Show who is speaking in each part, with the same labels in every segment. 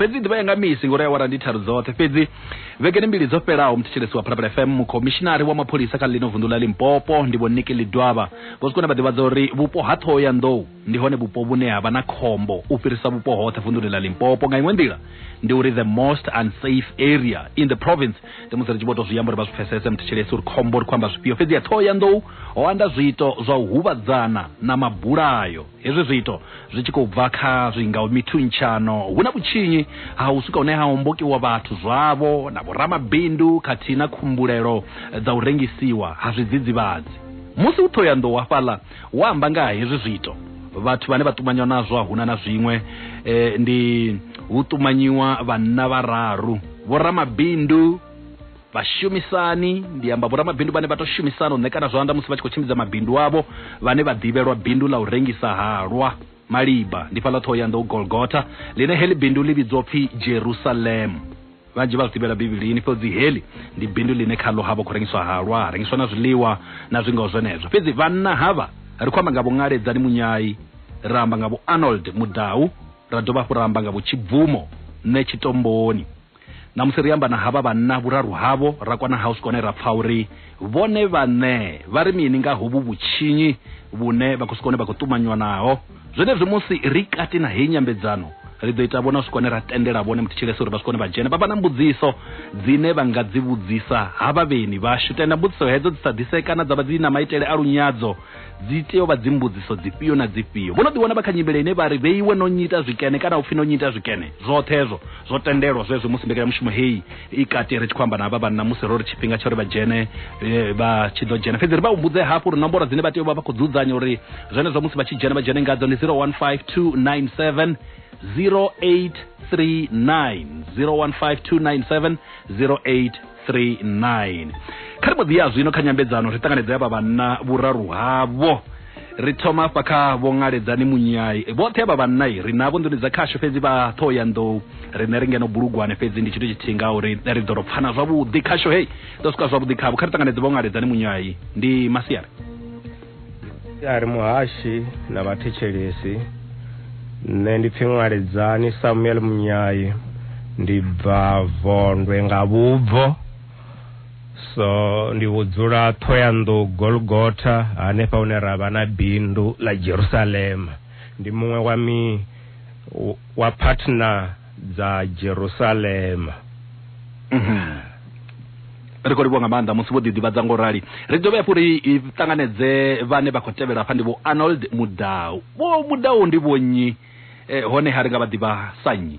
Speaker 1: fhedzi ḓivha yanga misi ngori awara ndi tharu dzoṱhe fhedzi vhegeni mbili dzo fhelaho muthethelesi wa phalaphala fm mukhomishinari wa mapholisa kha ḽino vunḓu ḽa limpopo ndi vho niki lidwaba vho sikone vha ḓivhadza uri vhupo ha ṱhoho ya nḓou ndi hone vhupo vhune ha vha na khombo u fhirisa vhupo hoṱhe vunḓuni ḽa limpopo nga iṅwe nḓila ndi uri the most unsafe area in the province ndi musi ri tshi vho tou zwi amba uri vha zwi pfesese muthethelesi uri khombo ri khou amba zwifhio fhedzi ya ṱhoho ya nḓou ho anda zwiito zwa u huvhadzana na mabulayo Hezwi zwiito zwi tshi khou bva kha zwingaho mithuntshanyo, hu na vhutshinyi ha u swika hune ha hombokiwa vhathu zwavho na vhoramabindu khathihi na khumbulelo dza u rengisiwa ha zwidzidzivhadzi. Musi hu ṱhohoyanḓou hafhaḽa wa amba nga ha hezwi zwiito, vhathu vhane vha ṱumanywa nazwo a huna na zwiṅwe ndi hu ṱumanyiwa vhanna vhararu, vhoramabindu, vhashumisani ndi amba vhoramabindu vhane vha tou shumisana u ṋekana zwanḓa musi vha tshi khou tshimbidza mabindu avho vhane vha ḓivhelwa bindu ḽa u rengisa halwa maliba ndi fhaḽa ṱhohoyanḓou golgotha ḽine heḽi bindu ḽi vhidzwa upfi jerusalem vhanzhi vha zwi ḓivhela bivhilini fhedzi heḽi ndi bindu ḽine khaḽo ha vha khou rengiswa halwa ha rengiswa na zwiḽiwa na zwingaho zwenezwo fhedzi vhanna havha ri khou amba nga vhungaledzani munyai ra amba nga vho arnold mudau ra dovha hafhu ra amba nga vho tshibvumo nṋe tshitomboni Ṋamusi ri amba na havha vhanna vhuraru havho ra kwana house kone ra pfa uri vhone vhaṋe vha ri mini nga hovhu vhutshinyi vhune vhakhosikone vha khou ṱumanywa naho. Zwenezwi musi ri kati na heyi nyambedzano, ri ḓo ita vhonasikone ra tendela vhone muthetshelese uri vhasikone vha dzhene vha vha na mbudziso dzine vha nga dzi vhudzisa havha vheni vhashu. Tenda mbudziso hedzo dzi sa ḓisee kana dza vha dzi na maitele a lunyadzo. Dzi tea u vha dzimbudziso dzifhio na dzifhio? Vho no ḓiwana vha kha nyimele ine vha ri vheiwe no nyita zwikene kana u pfi no nyita zwikene. Zwoṱhe hezwo zwo tendelwa zwezwi musi mbekanyamushumo heyi i kati ri tshi khou amba na havha vhanna musi ro ri tshifhinga tsho ri vha dzhene eh, vha tshi ḓo dzhena. Fhedzi ri vha humbudze hafhu uri nomboro dzine vha tea u vha vha khou dzudzanya uri zwenezwo musi vha tshi dzhena vha dzhene ngadzo ndi 015297 0839 015297 08 39 kha ri mbo ḓi ya zwino kha nyambedzano ri ṱanganedza ya vha vhanna vhuraru havho ri thoma afha kha vho ṅaledzani munyai vhoṱhe avha vhanna ri navho nḓuni dza khasho fhedzi vha ṱhoho ya nḓou riṋe ri ngeno bulugwane fhedzi ndi tshithu tshithihi nga uri ri ḓo ro pfana zwavhuḓi khasho hei ḓo swika zwavhuḓi khavho kha ri ṱanganedze vho ṅaledzani munyai ndi masiari a ri muhashi na vhathetshelesi nṋe ndi pfi ṅwaledzani samuel munyayi ndi bva vondwe nga vhubvo so ndi vhudzula ṱhoyanḓou golgotha hanefha hune ra vha na bindu ḽa jerusalema ndi muṅwe wa mi wa partner dza Jerusalema. Mhm. ri khou livhuwa nga maanḓa musi vho ḓiḓivhadza ngo rali ri dovhe hafhu ri i ṱanganedze vhane vha khou tevhela hafha ndi vho arnold mudau vho mudau ndi vhonnyi eh, hone ha ri nga vha ḓivha sa nnyi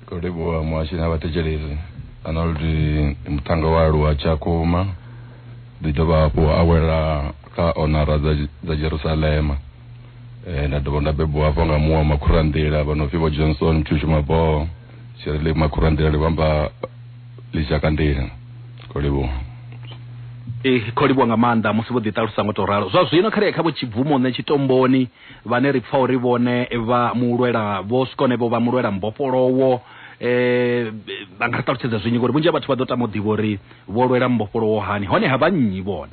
Speaker 1: khou livhuwa muhashi na vhathetshelesi arnold ndi muthannga wa aluwa tshakhuma ḓi dovha hafhu a wela kha onara dza, dza jerusalema eh, nda dovha nda bebiwa hafho nga muwa makhuranḓila vha no pfi vho johnson mthushi maboho tshirile makhuranḓila ri vhamba ḽishakandila ko livhuwa Eh, kho livhuwa nga maanḓa musi vho ḓiṱalusa ngo to ralo zwa zwino kha ri ye kha vho tshibvumone tshitomboni vhane ri pfa uri vhone vha mulwela vho swikone vho vha mulwela mbofholowo eh vha nga ri ṱalutshedza zwinyi ngori vhunzhi ha vhathu vha ḓo tama u ḓivha uri vho lwela mbofholowo hani hone ha vha nnyi vhone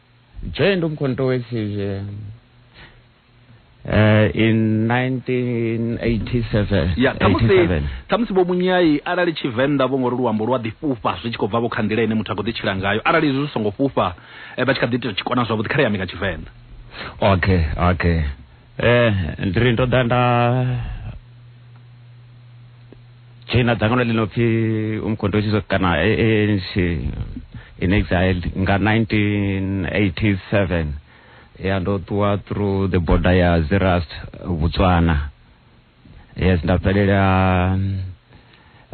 Speaker 1: joined umkhonto wesizwe uh, in 1987 ya khamusi 87. khamusi vho munyai arali tshivenḓa vho ngori luambo lu a ḓi fhufha zwi tshi khou bva vho kha nḓila ine muthu a khou ḓi tshila ngayo arali izwi zwi songo fhufha eh, vha tshi kha ḓi ita tshikona zwavhuḓi kha ri ambe nga tshivenḓa okay okay eh ndi ri ndo ḓa nda dzhoina dzangano ḽi no pfi umkhondo tshizo kana ANC in exile nga 1987 ya ndo ṱuwa through the border ya Zerast Botswana yes ndabvelela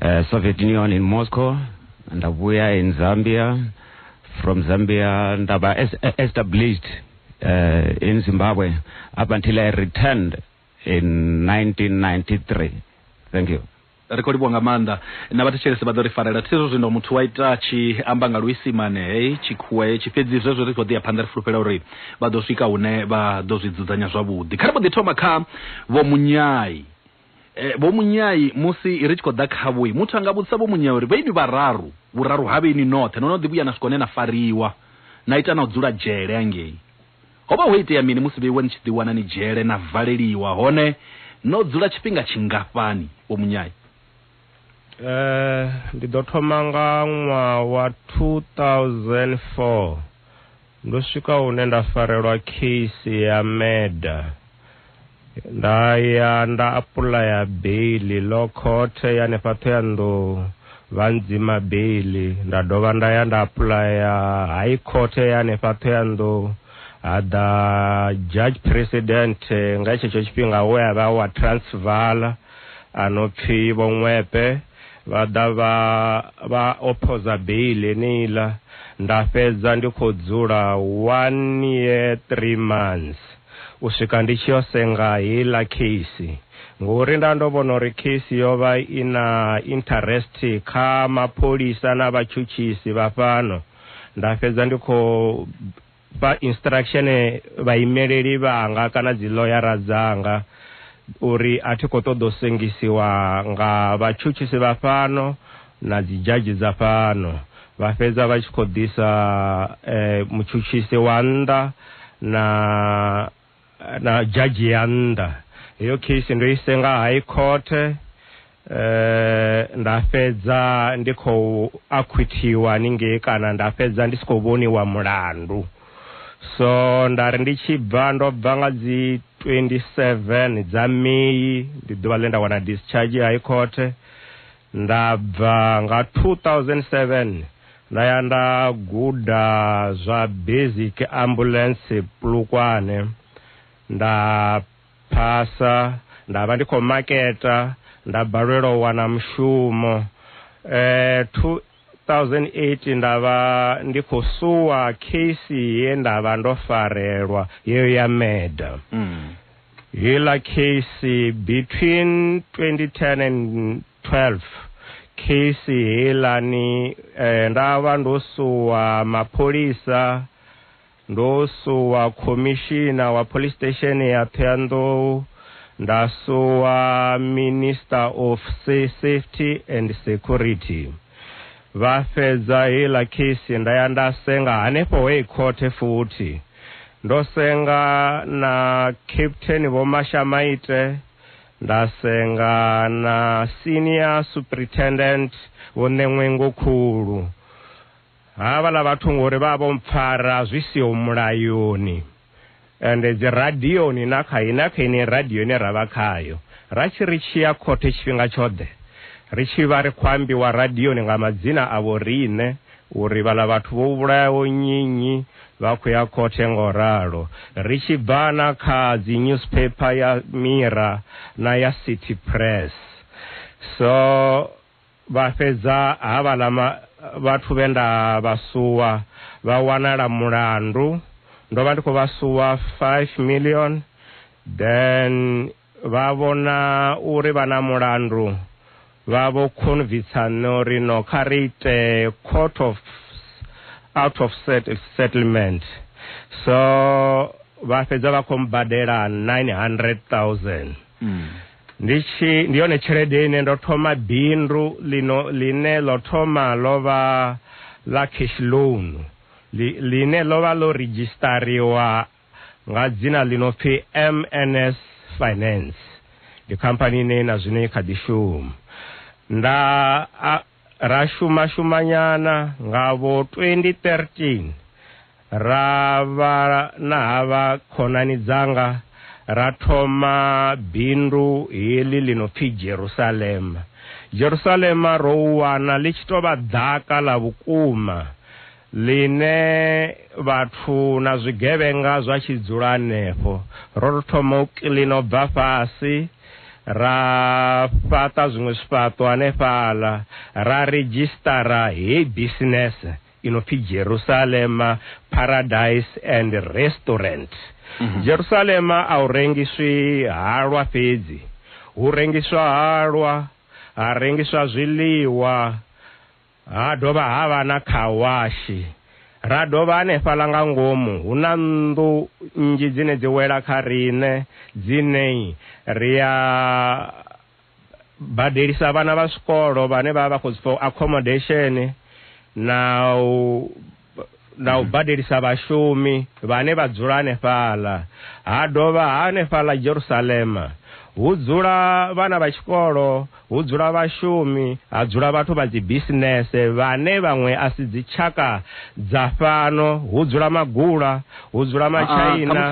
Speaker 1: uh, soviet union in moscow ndabuya in zambia from zambia ndaba es- established uh, in zimbabwe up until i returned in 1993 thank you ri khou livhuwa nga maanḓa na vhathetshelesi vha ḓo ri farela thi zwo zwino muthu wa ita a tshi amba nga luisimane hei tshikhuwa hetshi fhedzi zwezwo ri khou ḓi ya phanḓa ri fulufhela uri vha ḓo swika hune vha ḓo zwi dzudzanya zwavhuḓi kha ri mbo ḓi thoma kha vho munyai eh, vho munyai musi ri tshi khou ḓa khavho muthu a nga vhudzisa vho munyai uri vhaini vhararu vhuraru ha vhaini noṱhe no no ḓi vhuya na swika hune na fariwa na ita na u dzula dzhele angei ho vha ho itea mini musi vheiwe ni tshi ḓi wana ni dzhele na valeliwa hone no dzula tshifhinga tshingafhani vho munyai Eh, ndi ḓo thoma nga ṅwaha wa 2004 ndo swika hune nda farelwa case ya murder nda ya nda apulaya beili lo khothe ya nefha thoyandou vha ndzima beili nda dovha nda ya nda apulaya high court ya nefha thoyandou ha ḓa judge president nga tshetsho tshifhinga we a vha wa transvala a no pfi Vho Ṅwepe vha ḓa vha vha ophoza bail yeneiḽa nda fhedza ndi khou dzula one year three months u swika ndi tshi yo senga heiḽa case ngori nda ndo vhona uri case yo vha i na interest kha mapholisa na vhatshutshisi vha fhano nda fhedza ndi khou Vha instruction vhaimeleli vhanga kana dzi ḽoyara dzanga uri a thi khou ṱoḓa u sengisiwa nga vhatshutshisi vha fhano na dzi dzhadzhi dza fhano. Vha fhedza vha tshi khou ḓisa mutshutshisi wa nnḓa na. eh, na judge ya nnḓa heyo case ndo i senga high court eh nda fhedza ndi khou acquithiwa ningei kana nda fhedza ndi si khou vhoniwa mulandu so nda ri ndi tshi bva ndo bva nga dzi 27 dza May ndi ḓuvha ḽe nda wana discharge high court Nda bva nga 2007 nda ya nda guda zwa basic ambulance Polokwane, nda phasa, nda vha ndi khou maketa, nda balelwa u wana mushumo. Eh, 2008 nda vha ndi khou suwa case ye nda vha ndo farelwa yeyo ya murder mm. heiḽa case between 2010 and 12 case heiḽani eh, nda vha ndo suwa mapholisa Ndo suwa khomishina wa Police Station ya Thohoyandou, nda suwa Minister of Safety and Security. Vha fhedza heiḽa case nda ya nda senga hanefho High Court futhi. Ndo senga na Captain Vho Mashamaite, nda senga na Senior Superintendent Vho Ṋeṅwengokhulu. Havhala vhathu ngori vha vho mpfara zwi siho mulayoni ende dzi radioni na kha na kha ine radio ine ra vha khayo ra tshi ri tshi ya khothe tshifhinga tshoḓe ri tshi vha ri khou ambiwa radioni nga madzina a vho riṋe uri vhala vhathu vho vhulayaho nnyi nnyi vha khou ya khothe ngo ralo ri tshi bva na kha dzi newspaper ya Mira na ya City Press so Vha fhedza havhaḽa vhathu vhe nda vha suwa vha wanala mulandu, ndo vha ndi khou vha suwa five million, then vha vhona uri vha na mulandu vha vho khonvitsa nṋe uri no kha ri ite court of out of settlement, so vha fhedza vha khou mbadela nine hundred thousand. Ndi tshi ndi yone tshelede ine ndo thoma bindu lino ḽine ḽo thoma ḽo vha ḽa cash loan ḽine ḽo vha ḽo ridzhistariwa nga dzina ḽi no pfi MNS Finance. Ndi khamphani ine na zwino i kha ḓi shuma. Nda a. Ra shuma-shumanyana nga vho 2013 ra vha na havha khonani dzanga ra thoma bindu heḽi ḽi no pfi Jerusalema. Jerusalema ro u wana ḽi tshi tou vha ḓaka ḽa vhukuma. ḽine vhathu na zwigevhenga zwa tshi dzula hanefho. Ro tou thoma u kiḽina u bva fhasi, ra fhaṱa zwiṅwe zwifhaṱo hanefhaḽa, ra redzhisṱara heyi bisinese i no pfi Jerusalema Paradise and Restaurant. Mhm. Jerusalema a hu rengiswi halwa fhedzi, hu rengiswa halwa, ha rengiswa zwiḽiwa, Ha dovha ha vha na khawashi. Ra dovha hanefhaḽa nga ngomu hu na nnḓu nnzhi dzine dzi wela kha riṋe dzine ri a badelisa vhana vha zwikolo vhane vha vha vha khou accommodation na u na u badelisa vhashumi vhane vha dzula hanefhaḽa ha dovha hanefhaḽa Jerusalema hu dzula vhana vha tshikolo hu dzula vhashumi ha dzula vhathu vha dzi bisinese vhane vhaṅwe a si dzitshaka dza fhano hu dzula magula hu dzula matshaina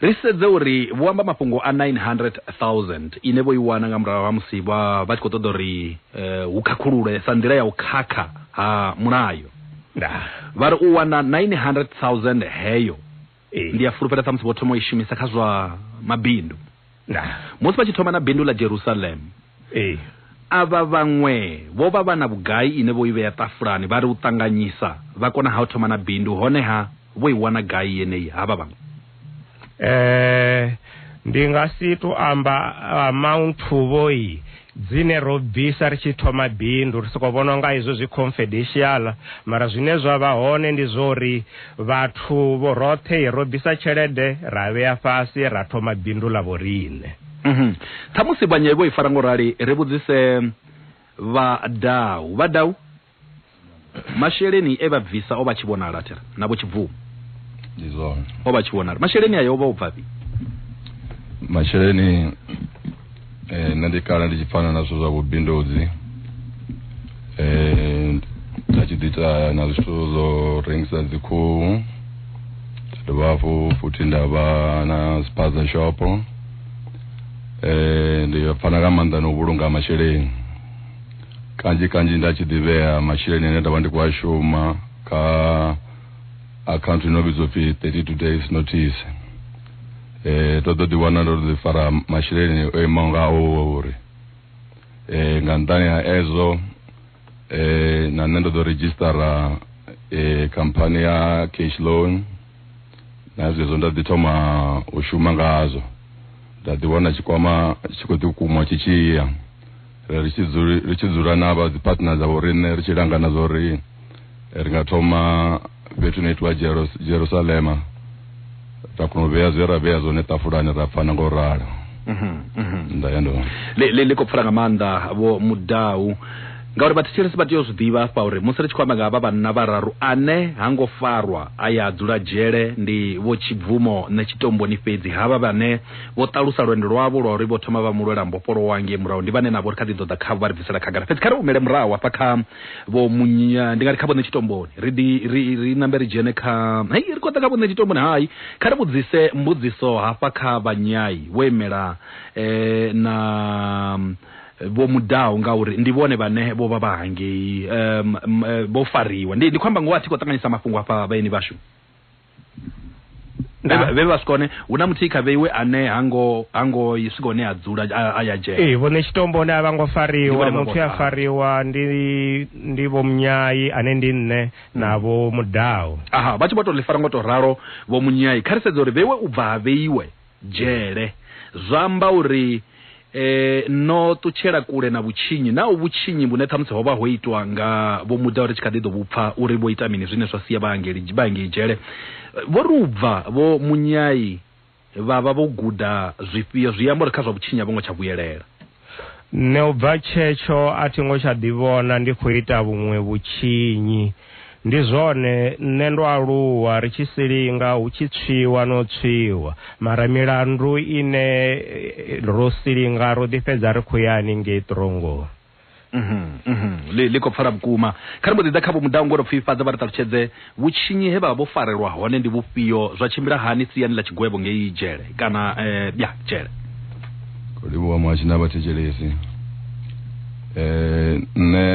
Speaker 1: Ri sedze uri vho amba mafhungo a 900,000 ine vho i wana nga murahu ha musi vha vha tshi khou ṱoḓa uri eh, hu khakhululwe sa nḓila ya u khakha ha mulayo. Vha ri u wana 900,000 heyo ndi a fulufhela samusi vho thoma u i shumisa kha zwa mabindu musi vha tshi thoma na bindu ḽa Jerusalem. Avha vhaṅwe vho vha vha na vhugai ine vho i vhea ṱafulani vha ri u ṱanganyisa vha kona ha u thoma na bindu honeha vho i wana gai yeneyi havha vha? Ee, ndi nga si tou amba amounthu vhoi dzine ro bvisa ri tshi thoma bindu, ri sokou vhona unga izwo zwi confidential, mara zwine zwa vha hone ndi zwa uri vhathu vho roṱhe ro bvisa tshelede ra vhea fhasi ra thoma bindu ḽa vhoriṋe. Khamusi vhanye vho i fara ngo rali, ri vhudzise Vha Dau. Vha Dau? masheleni e vha bvisa o vha tshi vhonala thera na vho tshibvumo ndi zwone o vha tshi vhonala masheleni ayo o vha o bvafhi masheleni eh, nṋe ndi kala ndi tshi pfana na zwithu zwa vhubindudzi eh, nda tshi ḓita na zwithu zwo rengisa dzikhuhu nda dovha hafhu futhi nda vha na spaza shopo eh, ndi pfana nga maanḓa na u vhulunga masheleni kanzhi kanzhi nda tshi ḓivhea masheleni ane nda vha ndi khou a shuma kha akhaunthu ino vhidzwa pfi 32 days notice eh to ḓo ḓi wana ndo ḓi fara masheleni o imaho nga o uri eh nga nṱani ha ezwo eh na nṋe ndo ḓo registera eh company ya cash loan na zwezwo nda ḓi thoma u shuma ngazwo nda ḓi wana tshikwama tshi khou ḓi kumwa tshi tshiya eh, ri tshi dzuli- ri tshi dzula na vha dzi partner dza vhoriṋe ri tshi langana zwa uri eh, ri nga thoma fhethu no itiwa Jeros- jerusalema ra kona u vhea zwe ra vhea zwone ṱafulani ra pfana ngo ralo Mhm, mhm. nda ya ndo ḽi ḽi- ḽi khou pfula nga maanḓa vho mudau ngauri vhathetshelesi vha tea u zwi ḓivha hafha uri musi ri tshi khou amba nga havha vhanna vhararu ane ha ngo farwa a ya dzula dzhele ndi vho tshibvumo nṋe tshitomboni fhedzi havha vhane Vho ṱalusa lwendo lwavho lwa uri vho thoma vha mu lwela mbofholowa ngei murahu. Ndi vhane na vho ri kha ḓi ḓo ḓa khavho vha ri bvisela khagala. Fhedzi kha ri humele murahu hafha kha vho Munya, ndi nga ri kha vhoṋe Tshitomboni. Ri ḓi ri ri nambe ri dzhene kha hei ri khou ḓa kha vhoṋe Tshitomboni. Hai, kha ri vhudzise mbudziso hafha kha vha Nyai vho imela na vho Mudau ngauri ndi vhone vhane vho vha vha hangei vho fariwa. Ndi ndi khou amba ngoho a thi khou ṱanganyisa mafhungo hafha vhaeni vhashu. Nah. vhe vha swika hone hu na muthihi kha vheiwe ane hango hango swika hone a dzula a ya dzhela ee vhone tshitombo hone a vha ngo fariwa muthu a fariwa ndi ndi vho munyayi ane ndi nṋe hmm. na vho mudau aha vha tshi vho to ḽi fara ngo to ralo vho munyayi kha ri sedza uri vheiwe u bva ha vheiwe dzhele. Zwa amba uri e, no ṱutshela kule na vhutshinyi, nao vhutshinyi vhune ṱhamusi ho vha ho itwa nga Vho Muda ri tshi kha ḓi ḓo vhupfa uri vho ita mini zwine zwa sia vha hangeli, vha hangei dzhele. Vho ri u bva Vho Munyai vha vha vho guda zwifhio zwi amba uri kha zwa vhutshinyi a vho ngo tsha vhuyelela. Nṋe u bva tshetsho a thi ngo tsha ḓivhona ndi khou ita vhuṅwe vhutshinyi. Ndi zwone, nṋe ndo aluwa ri tshi si linga hu tshi tswiwa no tswiwa, mara milandu ine ro si linga ro ḓi fhedza ri khou ya haningei ṱirongoni. Ḽi khou pfala vhukuma. Kha ri mbo ḓi ḓa kha Vho Mudau ngo tou pfifhadza vha ri ṱalutshedze Vhutshinyi he vha vha vho farelwa hone ndi vhufhio? Zwa tshimbila hani siani ḽa tshigwevho ngei dzhele kana ya dzhele? Livhuwa Muhashi na Vhathetshelesi. Nṋe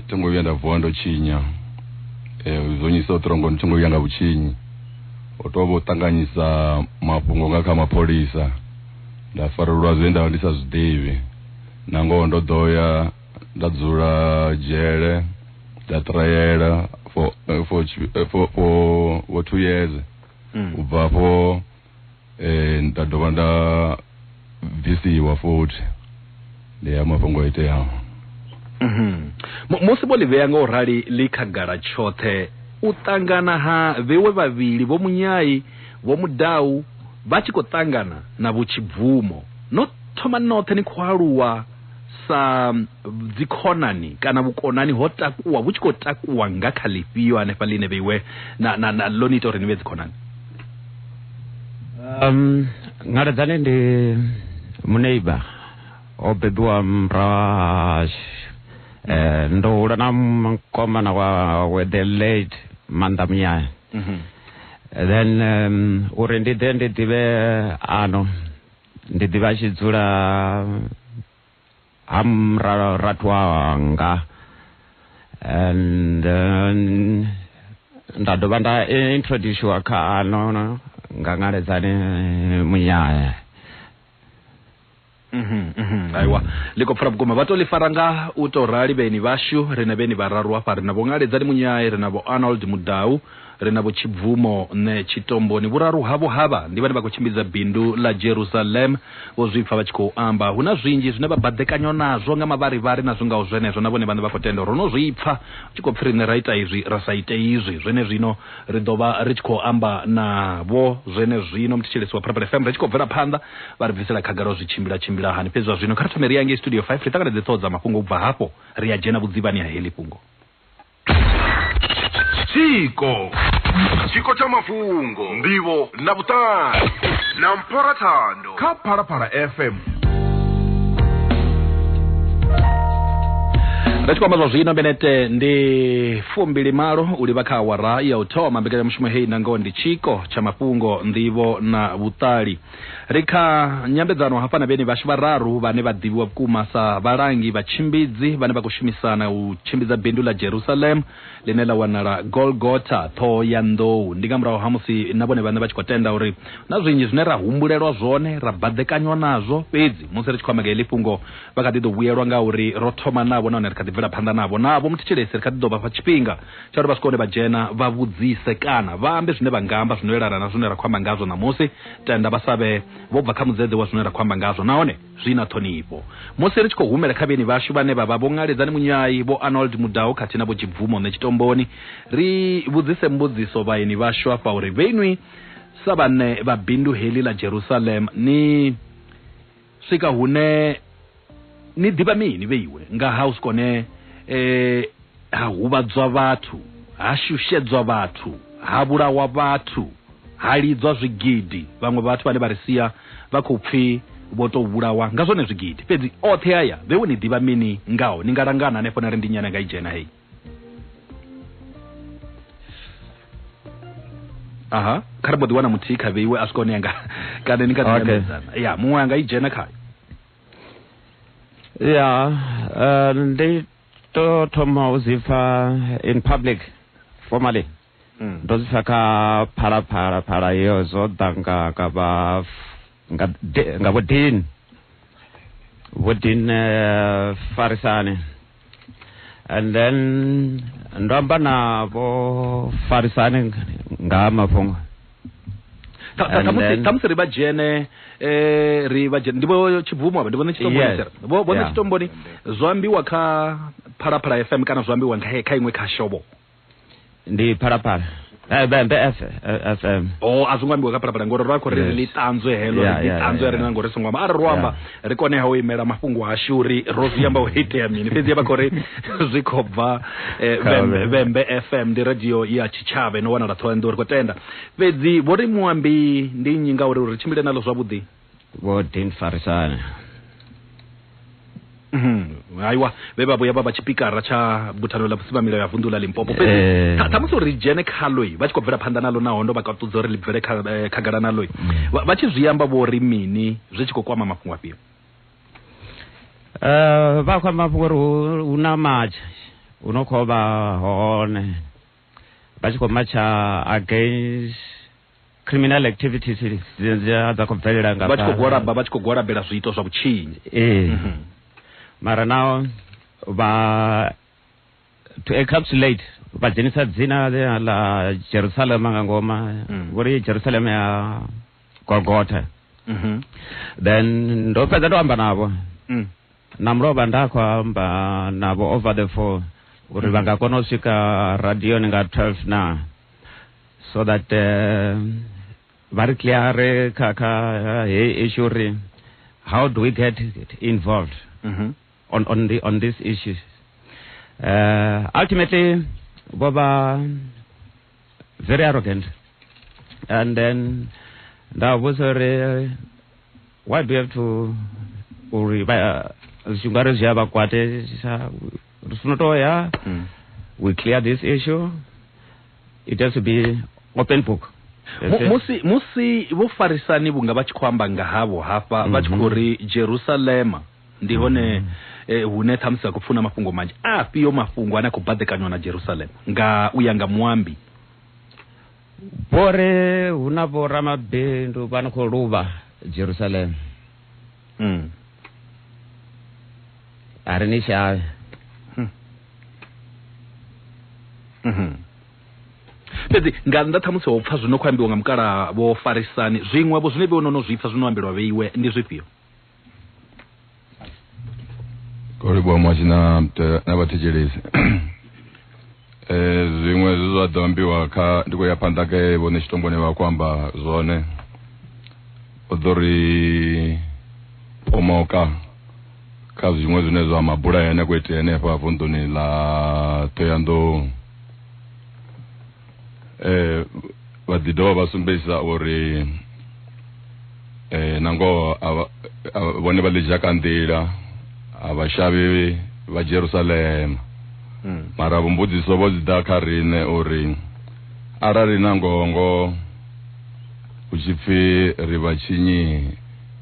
Speaker 1: tho ngo vhuya nda vuwa ndo tshinya, zwo nnyisa u ṱrongo ndi tshi ngo vhuya nga vhutshinyi. Ho tou vha u ṱanganyisa mafhungo nga kha mapholisa nda farelwa zwe nda vha ndi sa zwi ḓivhi, nangoho ndo ḓo ya. nda dzula dzhele nda trayela for eh, for tshi- eh, for for for two years Mm. u bva afho eh nda dovha nda bvisiwa futhi ndi ya mafhungo o iteaho Mhm. Mu- musi vho ḽi vhea nga u rali ḽi khagala tshoṱhe u ṱangana ha vhewe vhavhili vho munyai vho mudau vha tshi khou ṱangana na vhutshibvumo no thoma noṱhe ni khou aluwa sa dzikhonani kana vhukonani ho takuwa vhu tshi khou takuwa nga kha ḽifhio hanefha ḽine vheiwe na, na, na ḽo ni ita uri ni vhe dzikhonani um, ngaledzane ndi muneiba o bebiwa mrahashu eh, ndo hula na mkomana wawe the late manda muyaya mm -hmm. then um, uri ndi ḓe ndi ḓivhe ano ndi ḓivha tshi dzula ha mrathu wanga and nda dovha nda introduciwa kha ano nga ngaledzani munyaya mhm, mhm, aiwa ḽi khou pfula vhukuma vha to ḽi fara nga u tou rali vheni vhashu ri na vheni vhararu hafha ri na vho ngaledzani munyaye ri na vho arnold mudau ri na vhutshibvumo ne tshitomboni vhuraru havho havha ndi vhane vha khou tshimbidza bindu ḽa Jerusalem vho zwipfa vha tshi khou amba hu na zwinzhi zwine vha baḓekanywa nazwo nga mavharivhari na zwingaho zwenezwo na vhone vhane vha khou tenda ro no zwipfa hu tshi khou pfi riṋe ra ita izwi ra sa ite izwi zwene zwino ri ḓo vha ri tshi khou amba navho zwene zwino muthetsheleso wa Purple FM ri tshi khou bvela phanḓa vha ri bvisela khagala zwi tshimbila tshimbila hani fhedzi zwa zwino kha ri thome ri ya ngei studio 5 ri ṱanganedze ṱhoho dza mafhungo ubva hafho ri ya dzhena vhudzivhani ha heḽi fhungo tshiko tshiko tsha mafhungo ndivho na vhuṱali na mpora thando kha phalaphala fm ri tshi khou amba zwa zwino benete ndi fumbili malo u livha kha awara ya u thoma mbekanyamushumo heyi nangoho ndi tshiko tsha mafhungo nḓivho na vhuṱali Ri kha nyambedzano hafha na vheni vhashu vhararu vhane vha ḓivhiwa vhukuma sa vhalangi vha tshimbidzi vhane vha khou shumisana u tshimbidza bindu ḽa Jerusalem ḽine ḽa wanala Golgotha, ṱhoho ya nḓou. Ndi nga murahu ha musi na vhone vhaṋe vha tshi khou tenda uri na zwinzhi zwine ra humbulelwa zwone ra baḓekanywa nazwo, fhedzi musi ri tshi khou amba nga heḽi fhungo vha kha ḓi ḓo vhuyelwa ngauri ro thoma navho nahone ri kha ḓi bvela phanḓa navho. Navho muthetshelesi ri kha ḓi ḓo vha fha tshifhinga Tsha uri vha swike hune vha dzhena vha vhudzise kana vha ambe zwine vha nga amba zwino elana na zwine ra khou amba ngazwo ṋamusi, tenda vha sa vhe vho bva kha mudzedze wa zwine ra khou amba ngazwo nahone zwi na ṱhonifho. Musi ri tshi khou humela kha vheni vhashu vhane vha vha Vho Ngaledzani Munyai, Vho Arnold Mudau khathihi na Vho Tshibvumo Nṋe Tshitomboni, ri vhudzise mbudziso vhaeni vhashu afha uri vheinwi sa vhaṋe vha bindu heḽi ḽa Jerusalem ni swika hune ni ḓivha mini vheiwe nga ha u sikone eh, ha huvhadzwa vhathu ha shushedzwa vhathu ha vhulawa vhathu ha lidzwa zwigidi vhaṅwe vhathu vhane vha ri sia vha khou pfhi vho tou vhulawa nga zwone zwigidi fhedzi oṱhe aya vheiwe ni ḓivha mini ngaho ni nga langana hanefho na ri ndi nyana nga i dzhena hei aha kha ri mbo ḓi wana muthihi kha vheiwe a swika hone yanga kana ni kha Okay. ḓiambedzana ya muṅwe anga i dzhena khayo ya eh, ndi to thoma u zwi pfa in public formally Mm. ndo zwi sa kha phalaphala phala iyo zwo ḓa nga nga vha nga de- nga vho din vho din eh, farisani and then ndo amba na vho farisani nga ha mafhungo Ka- ka- And khamusi then- khamusi ri vha dzhene eh, ri vha dzhene ndi vho tshibvumo avha ndi vhone tshitomboni Yes. sir. vho vhone Yeah. tshitomboni zwo ambiwa kha phalaphala fm kana zwo ambiwa nga he- kha iṅwe kha shobo ndi phalaphala Eh, be- be- F- eh, fm o a zwi ngo ambiwa kha phalaphala ngori ro a khou ri ri Yes. ḽi ṱanzwe heḽo Yeah, ri ḽi yeah, ṱanzwe yeah, ri na yeah. ngori ri songo amba arali ro amba Yeah. ri koneha u imela mafhungo ashu uri ro zwi amba u itea mini fhedzi vha khou ri zwi khou bva eh, Kha Vhembe- vhe- vhembe fm ndi radio ya tshitshavha ino wanala thohoyanḓou ri khou tenda fhedzi vho ri muambi ndi nnyi ngauri uri tshimbile nalo zwavhuḓi vho din farisana Mhm. haiwa vhe vha vhuya vha vha tshipikara tsha buthano ḽa vhusimamilayo ya vunḓu ḽa limpopo Eh. fhedzi tha- ṱhamusi uri ri dzhene khaloi vha tshi khou bvela phanḓa nalo naho ndo vha kaṱudza uri ḽi bvele kha- eh, khagala naloi vha vha tshi zwi amba vho ri mini zwi tshi khou kwama mafhungo afhio Eh, vha khou amba uri hu- hu na matsha hu no khou vha hone vha tshi khou matsha against criminal activities dza khou bvelela nga vha tshi khou gwalaba vha tshi khou gwalabela zwiito zwa vhutshinyi ee mhm. mara nao vha to encapsulate vha dzhenisa dzina ḽa jerusalema nga ngoma mm. vho ri jerusalema ya golgotha mhm. then ndo fhedza ndo amba navho mm. na mulovha nda khou amba navho over the phone uri vha nga kona u swika radioni nga 12 na so that uh, vha ri cleare kha kha heyi issue uri how do we get involved mm -hmm. on, on, the, on this issue uh, ultimately vho vha very arrogant and then ndavavhudza uri why do you have to uri zvingwari uh, zviya vakwate rifuna mm. we clear this issue it has to be open book musi musi vho farisani vhunga vha tshi khou amba nga havho hafha vha tshi khou mhm. ri jerusalema ndi hone eh, hune ṱhamusi a khou pfuna mafhungo manzhi a fhiyo mafhungo ane a khou baḓekanywa na jerusalem nga u ya nga muambi vhore hu na vhoramabindu vha no khou luvha jerusalem mm. a ri ni tshayo Mhm. fhedzi nga nnḓa ṱhamusi ho pfa zwino khou ambiwa nga mukala vho farisani zwiṅwe vho zwine vhe no no zwipfa zwino ambelwa vheiwe ndi zwifhio kori bwa mwashi na mte- na vhathetshelesi eh zwiṅwe zwi zwa ḓo ambiwa kha ndi khou ya phanḓa ke vhone tshitomboni vha khou amba zwone u ḓo ri pomoka kha zwiṅwe zwine zwa mabula ane a khou itea henefha vunḓuni ḽa ṱhoyandou eh vha ḓi dovha vha sumbedzisa uri eh nangoho vhone vha ḽi dzhaka nḓila a vha shavhi vha Jerusalema hmm. mara vhumbudziso vho dzi ḓa kha riṋe uri arali nangoho ngoho hu tshi pfi ri vha tshinyi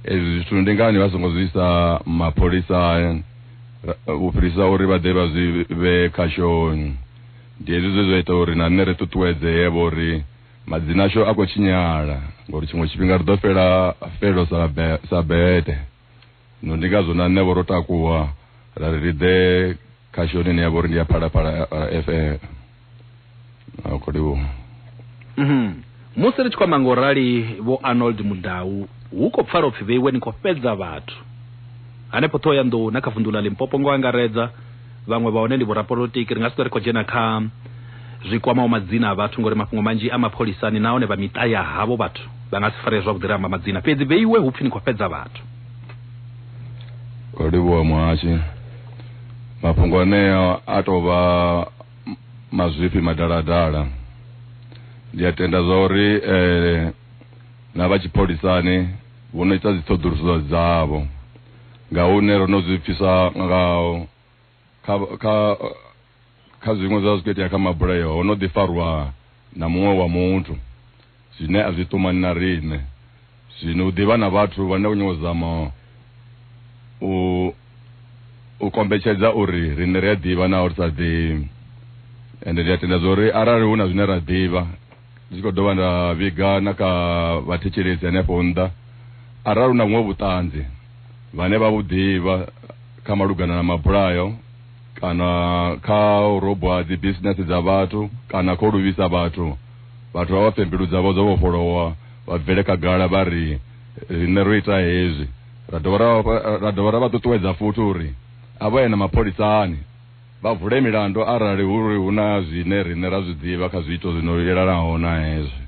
Speaker 1: ezwi zwithu ndi ngani vha songo zwi isa mapholisani u fhirisa uri vha ḓe vha zwi vhe kha shoni Ndi hezwi zwe zwa ita uri na nṋe ri ṱuṱuwedzee vho uri madzina ashu a khou tshinyala ngori tshiṅwe tshifhinga ri ḓo fhela felo sa, be, sa bete. Zwino ndi ngazwo na nṋe vho ro takuwa ra ri ri ḓe kha shoni ine ya vha uri ndi ya Phalaphala FM. Akholiwo. Mm -hmm. Musi ri tshi khou amba nga u rali, Vho Arnold Mudau, hu khou pfala u pfi vheiwe ni khou fhedza vhathu. Hanefho Ṱhohoyanḓou na kha vunḓu ḽa Limpopo nga u angaredza, vhaṅwe vha hone ndi vhorapolotiki, ri nga si ṱwe ri khou dzhena kha zwi kwamaho madzina a vhathu ngauri mafhungo manzhi a mapholisani nahone vha miṱa ya havho vhathu vha nga si faree zwavhuḓi ri amba madzina. Fhedzi vheiwe hu pfi ni khou fhedza vhathu. Ro livhuwa muhashi. Mafhungo anea a tou vha. mazwifhi madaladala ndi a tenda zwa uri eh, na vha tshipholisani vho no ita dziṱhoḓuluso dzavho nga hune ro no zwi pfisa nga kha kha kha zwiṅwe zwa zwi khou itea kha mabulayo ho no ḓi farwa na muṅwe wa muthu zwine a zwi ṱumani na riṋe. Zwino u ḓivha na vhathu vhane vha nyanga u zama u u kombetshedza uri riṋe ri a ḓivha naho ri sa ḓivhi, ende ndi a tenda zwa uri arali hu na zwine ra ḓivha, ndi tshi khou dovha nda vhiga na kha vhathetshelesi henefho nnḓa, arali hu na vhuṅwe vhuṱanzi vhane vha vhu ḓivha kha malugana na mabulayo, kana kha u robwa dzi business dza vhathu kana kho luvhisa vhathu vhathu vha vha pfhe mbilu dzavho dzo vhofholowa vha bvele khagala vha ri riṋe ro ita hezwi ra dovha ra ra dovha ra vha ṱuṱuwedza futhi uri a vha ye na mapholisani vha vule milandu arali hu uri hu na zwine riṋe ra zwi ḓivha kha zwiito zwino yelanaho na hezwi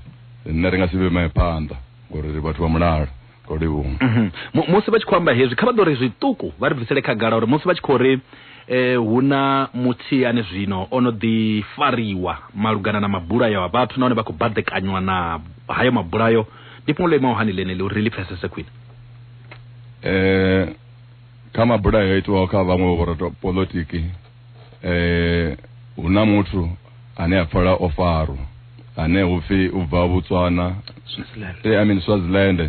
Speaker 1: riṋe ri nga si vhe phanḓa ngori ri vhathu vha mulalo mhm. musi vha tshi khou amba hezwi kha vha ḓo ri zwiṱuku vha ri bvisele khagala uri musi vha tshi khou ri eh hu na muthihi ane zwino o no ḓi fariwa malugana na mabulayo a vhathu nahone vha khou baḓekanywa na hayo mabulayo ndi fhungo ḽo imaho hani ḽeneḽi uri ri ḽi pfesese khwine eh kha mabulayo a itiwaho kha vhaṅwe vho polotiki eh hu na muthu ane a pfala o farwa ane upfi u bva Botswana eh I mean Swaziland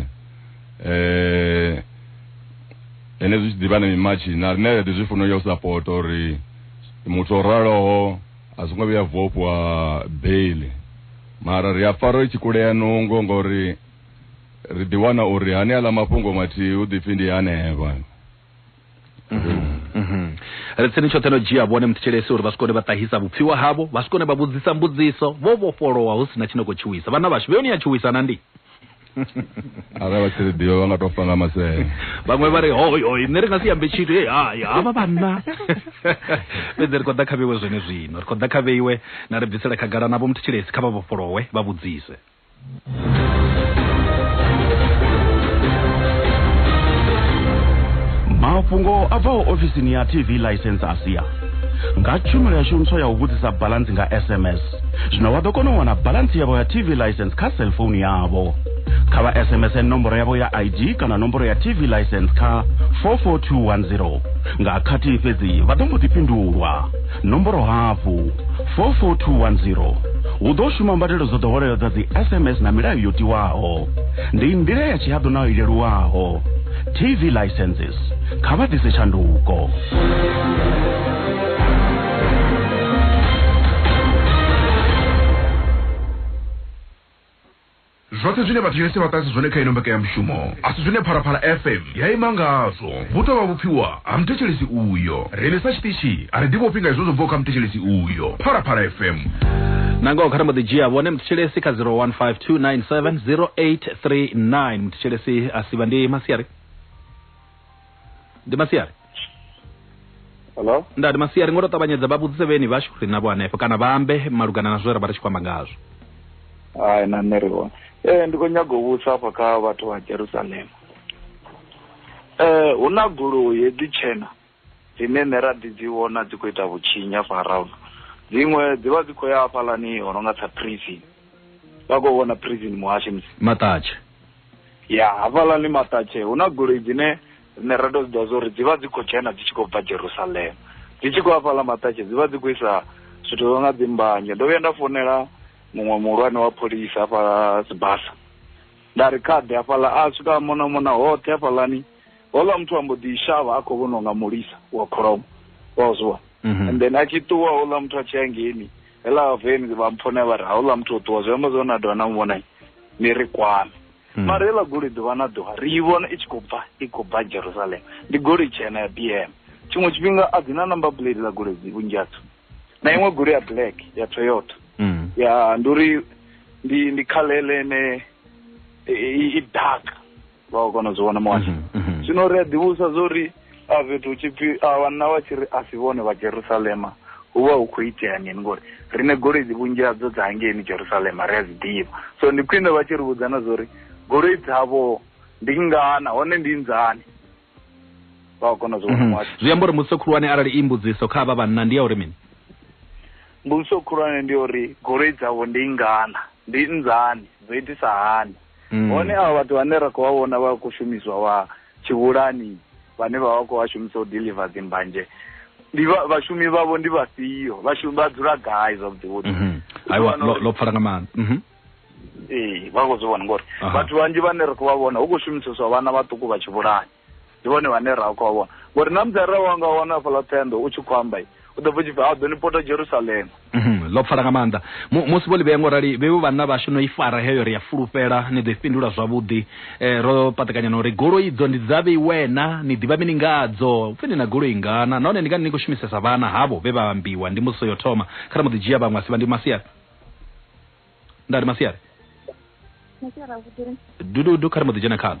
Speaker 1: eh ene zwi tshi ḓivha na mimatshi na rine ri zwi funa yo support uri muthu o raloho a songo vhuya vhofhwa bail mara ri a pfa ro tshi kulea nungo ngori ri ḓiwana uri hani aḽa mafhungo mathihi u ḓipfi ndi hanevha mm-hmm. Mm-hmm. ri tsini tshoṱhe no dzhia vhone muthetshelesi uri vha si kone vha ṱahisa vhupfiwa havho vha si kone vha vhudzisa mbudziso vho vhofholowa hu si na tshine khou tshuwisa vhana vhashu vheyoni ya tshuwisa na ndi arali vha tshiri ḓivha vha nga tou fa nga masele vhaṅwe vha ri hoyoi nṋe ri nga si yambe tshithu e hai havha vhanna fhedzi ri khou ḓa kha vheiwe zwone zwino ri khou ḓa kha vheiwe na ri bvisela khagala navho muthu tshilesi kha vha vhofholowe vha vhudzise mafhungo a bvaho ofisini ya tv license a sia nga tshumelo yashu ntswa ya u vhudzisa balansi nga sms zwino vha ḓo kona u wana balansi yavho ya tv license kha cellphone yavho kha vha sms nomboro yavho ya id kana nomboro ya tv license kha 44210 nga khathihi fhedzi vha ḓo mbo ḓi fhindulwa nomboro hafhu 44210 hu ḓo shuma mbadelo dzo ḓoweleaho dza dzi sms na milayo yo tiwaho ndi nḓila ya tshihaḓu nayo i leluwaho tv licenses kha vha ḓise tshanduko Zwoṱhe zwine vhathu Yosi vha ṱahisa zwone kha ino mbekanyamushumo a si zwine Phalaphala FM ya ima ngazwo. Vhu tou vha vhupfiwa ha muthetshelesi uyo. Riṋe sa tshiṱitshi a ri ḓivhofhi nga hezwo zwo bvaho kha muthetshelesi uyo. Phalaphala FM. Nangoho kha ri mbo ḓi dzhia vhone muthetshelesi kha 0152970839. Muthetshelesi a si vha ndi masiari. ndi masiari Hello? ndati masiari ngoto ṱavhanyedza vha vhudzise vheni vhashu ri navho hanefho kana vha ambe malugana na zwe ra vha ri tshi khou amba ngazwo Hai na nṋe ri hone. Eh ndi khou nyaga u vhusa hafha kha vhathu vha Jerusalem. Eh hu na goloi hedzi tshena dzine nṋe ra ḓi dzi vhona dzi khou ita vhutshinyi hafha around. Dziṅwe dzi vha dzi khou ya hafhaḽani ho no nga sa prison. Vha khou vhona prison muhasho musi. maṱatshe Ya, hafhaḽani maṱatshe hu na goloi dzine riṋe ra tou dzi ḓivha zwa uri dzi vha dzi khou dzhena dzi tshi khou bva Jerusalema. Dzi tshi khou ya hafhaḽa maṱatshe dzi vha dzi khou isa zwithu zwa nga dzi mbanzhe. Ndo vhuya nda founela muṅwe muhulwane wa pholisa hafha Sibasa nda ri kha ḓe hafhaḽa, a swika a mona mona hoṱhe hafhaḽani. houḽa muthu a mbo ḓi shavha a khou vhonwa nga mulisa wa kholomo wa zwi vhona mhm. and then a tshi ṱuwa houḽa muthu a tshi ya ngeni hela veni vha mpfone vha ri hauḽa muthu o ṱuwa zwi amba zwo na dovha na muvhona ni ri kwame hmm. mara hela goloi ḓuvha na ḓuvha ri i vhona i tshi khou bva i khou bva jerusalem ndi goloi tshena ya bm tshiṅwe tshifhinga a dzi na number plate ḽa goloi dzi vhunzhi hadzo na iṅwe goloi ya black ya toyota hmm. ya ndi uri ndi ndi khalele ene i dark vha khou kona u zwi vhona muhasho mhm, mhm. zwino ri a ḓivhusa zwo ri a fhethu hu tshipfi a vhanna vha tshi ri a si vhone vha jerusalema hu vha hu khou itea mini ngori riṋe goloi dzi vhunzhi hadzo dza hangeini jerusalema ri a dzi ḓivha so ndi khwine vha tshi ri vhudza na zwo ri goloi dzavho ndi ngana hone ndi nzani vha khou kona u zwi vhona mhm. muhasho zwi amba uri mbudziso khulwane arali i mbudziso kha vha vhanna ndi ya uri mini mbudziso khulwane ndi uri goloi dzavho ndi ngana ndi nzani dzo itisa hani mm. hone avha vhathu vhane ra khou vha vhona vha khou shumiswa vha tshivhulani vhane vha vha khou vha shumisa u deliver dzimbanje ndi vhashumi vhavho ndi vhafhio vhashumi vha dzula gai zwavhuḓi vhuḓi mhm. aiwa lo pfala nga maanḓa mhm. ee vha khou zwi vhona ngori vhathu vhanzhi vhane ri khou vha vhona hu khou shumiseswa vhana vhaṱuku vha tshivhulani Ndi vhone vhane ra khou vha vhona. Vho ri, Ṋamusi arali wa nga wana hafhaḽa ṱhohoyanḓou u tshi khou amba, u ḓo pfa u tshi pfi, A ḓo ni pota Jerusalema. Mhm, ḽo pfala nga maanḓa. Mu, musi vho ḽi vhea nga u rali, vhevho vhanna vhashu no i fara heyo, ri a fulufhela ni ḓo i fhindula zwavhuḓi. E, ro paṱekanya na uri goloi idzo ndi dza vheiwena, ni ḓivha mini nga hadzo? Hu pfi ni na goloi ngana, nahone ndi ngani ni khou shumisesa vhana havho vhe vha ambiwa? Ndi mbudziso yo thoma. Kha ri mbo ḓi dzhia vhaṅwe a si vha. Ndi masiari. Nda ri masiari. Masiari avhuḓi. Dududu, kha ri mbo ḓi dzhena khaḽo.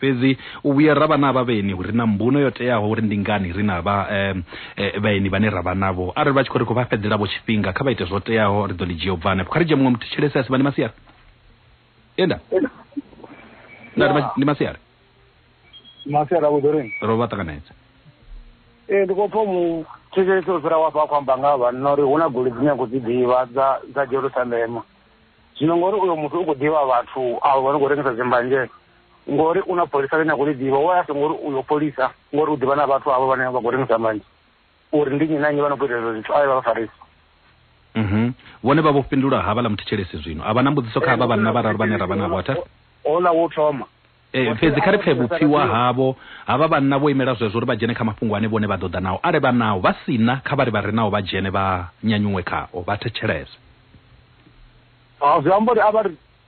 Speaker 1: Fhedzi u vhuya ra vha na vhaeni hu re na mbuno yo teaho uri ndi ngani ri na vha vhaeni vhane ra vha navho arali vha tshi khou ri khou vha fhedzela vho tshifhinga kha vha ite zwo teaho ri ḓo ḽi dzhia u bva hanefho kha ri dzhie muṅwe muthu tshelesi a si vha ndi masiari enda nda ndi masiari masiari a vhuḓo rini ro vha ṱanganedza ee ndi khou pfa mu thetshelesi u fhira wa fha a khou amba nga vhanna uri hu na goli dzine a khou dzi ḓivha dza dza jerusalema zwino ngori uyo muthu u khou ḓivha vhathu avo vha no khou rengisa dzimbanzhee ngori u na pholisa ḽine a khou ḽi ḓivha wa asa ngori uyo pholisa ngori u ḓivha na vhathu avho vhane vha khou rengisa manzhi uri ndi nnyi na nnyi vha no khou ita ezwo zwithu a ye vha vha farisa mhm. vhone vha vho fhindula ha vhaḽa muthetshelesi zwino a vha na mbudziso kha havha eh, vhanna vhararu vhane ra vha navho atha ola wo thoma Eh, fhedzi kha ri pfe vhupfiwa havho havha vhanna vho imela zwezwo uri vha dzhene kha mafhungo ane vhone vha ḓo ḓa nao arali vha nao vha si na kha vha ri vha re nao vha dzhene vha nyanyuṅwe khao vha thetshelese zwi amba uri a vha ri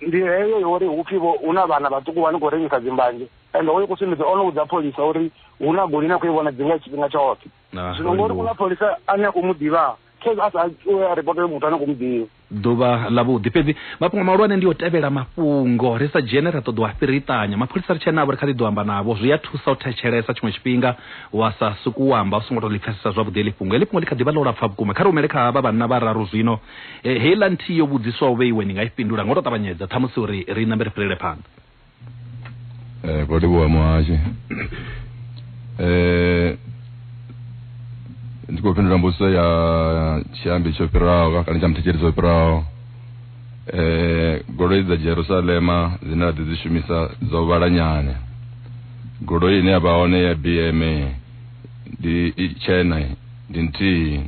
Speaker 1: ndi heyo yo uri hupfi vho hu na vhana vhaṱuku vha ni khou rengisa dzimbanzhe ende hoyo kusumbedza o no vhudza pholisa uri hu na goli na khou i vhona dzinga tshifhinga tshoṱhe ah, zwino ngori ku na pholisa ane a khou mu ḓivhaa khezi a sa a ripotele muthu ane khou mu ḓivha ḓuvha ḽa vhuḓi fhedzi mafhungo mahulwane ndi o tevhela mafhungo ri sa dzhene ra ṱoḓa u a fhiriṱanya mapholisa ri tshenavho ri kha ḓi ḓo amba navho zwi a thusa u thetshelesa tshiṅwe tshifhinga wa sa suku amba u songo to ḽi pfesesa zwavhuḓi ḽi fhungo ḽi fhungo ḽi kha ḓi vha ḽo lapfa vhukuma kha ri humele kha vha vhanna vha raru zwino He, heiḽa nthihi yo vhudziswaho vhe iwe ni nga i fhindula nga u tou ṱavhanyedza ṱhamusi uri ri nambe ri fhirele phanḓa Eh, vho livhuwa muhashi eh, ndi khou fhindula mbudziso ya tshiambi tsho fhiraho ka- kana tsha muthetshelesi tsho fhiraho eh, goloi dza jerusalema dzine ra ḓi dzi shumisa dzo vhala nyana goloi ine ya vha hone ya bma ndi i tshena ndi nthihi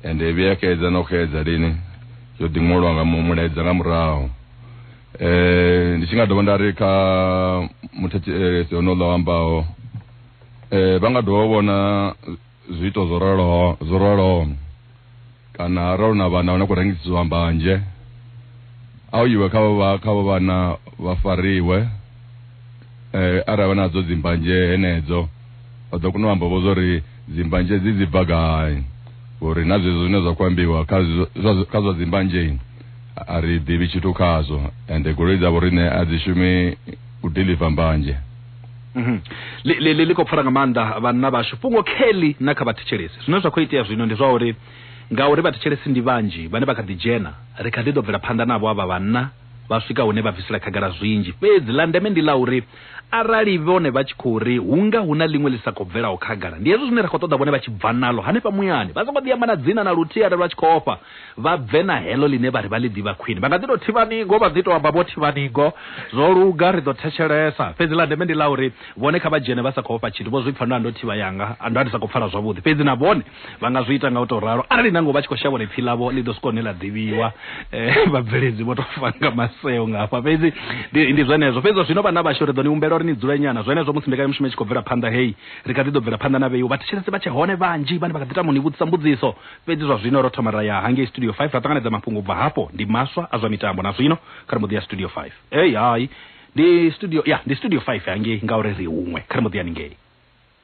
Speaker 1: ende i vhuya xedza na u xedza lini yo ḓi ṅwolwa nga mulaedza nga murahu eh ndi tshi nga dovha nda ri kha muthetshelesi eh, onoḽa wa ambaho eh vha nga dovha vhona zwiito zwo raloho zwo raloho kana arali na vhana vhana khou rengisiwa mbanzhe a u iwe kha vha kha vha vhana vha fariwe Eh, arali vha nadzo dzimbanzhe henedzo vha ḓo kona u amba vho zwa uri dzimbanzhe dzi dzi bva gai uri na zwezwo zwine zwa khou ambiwa kha zwa- zwa- kha zwa dzimbanzhe a- a ri ḓivhi tshithu khazwo ende goloi dzavho riṋe a dzi shumi u deliver mbanzhe Mhm. Li- li li- li khou pfara nga maanḓa vhanna vhashu fhungo kelly na kha vhathetshelesi zwine zwa khou itea zwino ndi zwa uri ngauri vhathetshelesi ndi vhanzhi vhane vha kha ḓi dzhena ri kha ḓi ḓo bvela phanḓa navho avha vhanna vha swika hune vha bvisela khagala zwinzhi, fhedzi ḽa ndeme ndi ḽa uri arali vhone vha tshi khou ri hu nga hu na ḽiṅwe ḽi sa khou bvelaho khagala, ndi hezwo zwine ra khou ṱoḓa vhone vha tshi bva naḽo hanefha muyani, vha songo ḓi amba na dzina na luthihi arali vha tshi khou ofha, vha bve na heḽo ḽine vha ri vha ḽi ḓivha khwine. Vha nga ḓi tou thivha ningo, vha ḓi tou amba vho thivha ningo, Zwo luga, ri ḓo thetshelesa. Fhedzi ḽa ndeme ndi ḽa uri vhone kha vha dzhene vha sa khou ofha tshithu, vho zwi pfa, Nda ndo thivha yanga, nda ndi sa khou pfala zwavhuḓi. Fhedzi na vhone. vha nga zwi ita nga u tou ralo arali nango vha tshi khou shavha uri pfi ḽavho ḽi ḓo swika hune ḽa ḓivhiwa eh, vhabveledzi vho tou fanga maseo nga hafha fhedzi ndi zwenezwo fhedzi zwino vhana vhashu ri ḓo ni humbela uri ni dzule nyana zwenezwo musi mbekanyamushumo i tshi khou bvela phanḓa heyi ri kha ḓi ḓo bvela phanḓa na vheiwo vhathetshelesi vha tshe hone vhanzhi vhane vha kha ḓi tamo ni vhudzisa mbudziso fhedzi zwa zwino ro thoma ra ya hangei studio 5 ra ṱanganedza mafhungo ubva hafho ndi maswa a zwa mitambo na zwino kha ri mbo ḓi ya studio 5 ei hai ndi studio ya ndi studio 5 hangei ngauri ri huṅwe kha ri mbo ḓi ya ningei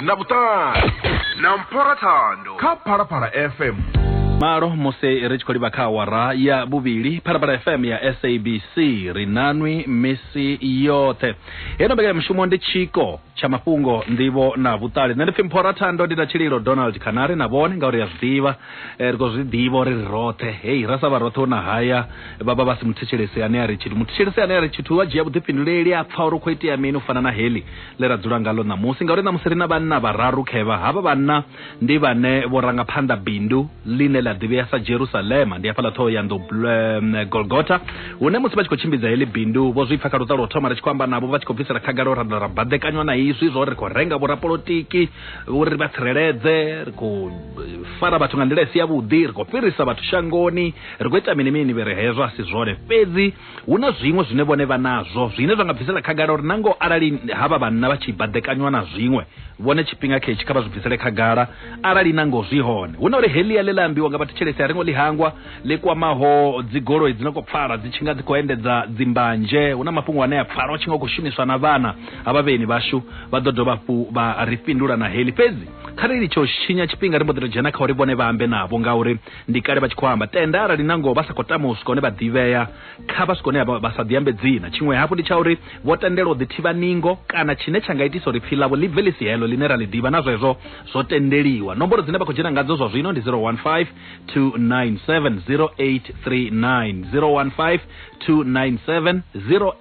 Speaker 1: na vhuṱali na mphora thando kha phalaphala fm malo musi ri tshi khou livha kha awara ya vhuvhili phalaphala fm ya sabc ri nanwi misi yoṱhe heino mbekanyamushumo ndi tshiko tsha mafhungo nḓivho na vhuṱali nṋe ndi pfi mphora thando ndi na tshililo donald khanari na vhone ngauri ya zwiḓivha eh, ri khou zwi ḓivha uri ri roṱhe hei ra sa vha roṱhe hu na haya vha vha vha si muthetshelesi ane a ri tshithu muthetshelesi ane a ri tshithu wa dzhia vhuḓifhinduleli a pfa uri u khou itea mini u fana na heli ḽe ra dzula ngaḽo ṋamusi ngauri ṋamusi ri na vhanna vhararu khevha havha vhanna ndi vhane vho ranga phanḓa bindu ḽine ḽa ḓivhea sa jerusalema ndi hafhaḽa ṱhoho ya nḓou golgota hune musi vha tshi khou tshimbidza heḽi bindu vho zwi pfa kha luṱa lwa u thoma ri tshi khou amba navho vha tshi khou bvisela khagala ra ra baḓekanywa na izwi zwa uri ri khou renga vhorapolotiki uri vha tsireledze ri khou fara vhathu nga nḓila i si yavhuḓi ri khou fhirisa vhathu shangoni ri khou ita mini mini vhe ri hezwo a si zwone fhedzi hu na zwiṅwe zwine vhone vha nazwo zwine zwa nga bvisela khagala uri na ngoho arali havha vhanna vha tshi baḓekanywa na zwiṅwe vhone tshifhinga khetshi kha vha zwi bvisele khagala arali na ngoho zwi hone hu na uri helia ḽe ḽa ambiwa nga vhathetshelesi a ringo ḽi hangwa ḽi kwamaho dzigoloi dzi no khou pfala dzi tshi nga dzi khou endedza dzimbanje hu na mafhungo ane a pfala o tshi nga khou shumiswa na vhana ha vhavheni vhashu vha ḓo dovha hafhu vha ri fhindula na heli fhedzi kha ri litshe u tshinya tshifhinga ri mbo ḓi to dzhena kha uri vhone vha ambe navho ngauri ndi kale vha tshi khou amba tenda arali nangoho vha sa khou tama u swika hone vha ḓivhea kha vha swika hone vha sa ḓiambe dzina tshiṅwe hafhu ndi tsha uri vho tendela u ḓithivha ningo kana tshine tsha nga itisa uri pfi ḽavho ḽi bve ḽi si heḽo ḽine ra ḽi ḓivha na zwezwo zwo tendeliwa nomboro dzine vha khou dzhena ngadzo zwa zwino ndi 015 297 0839 015 297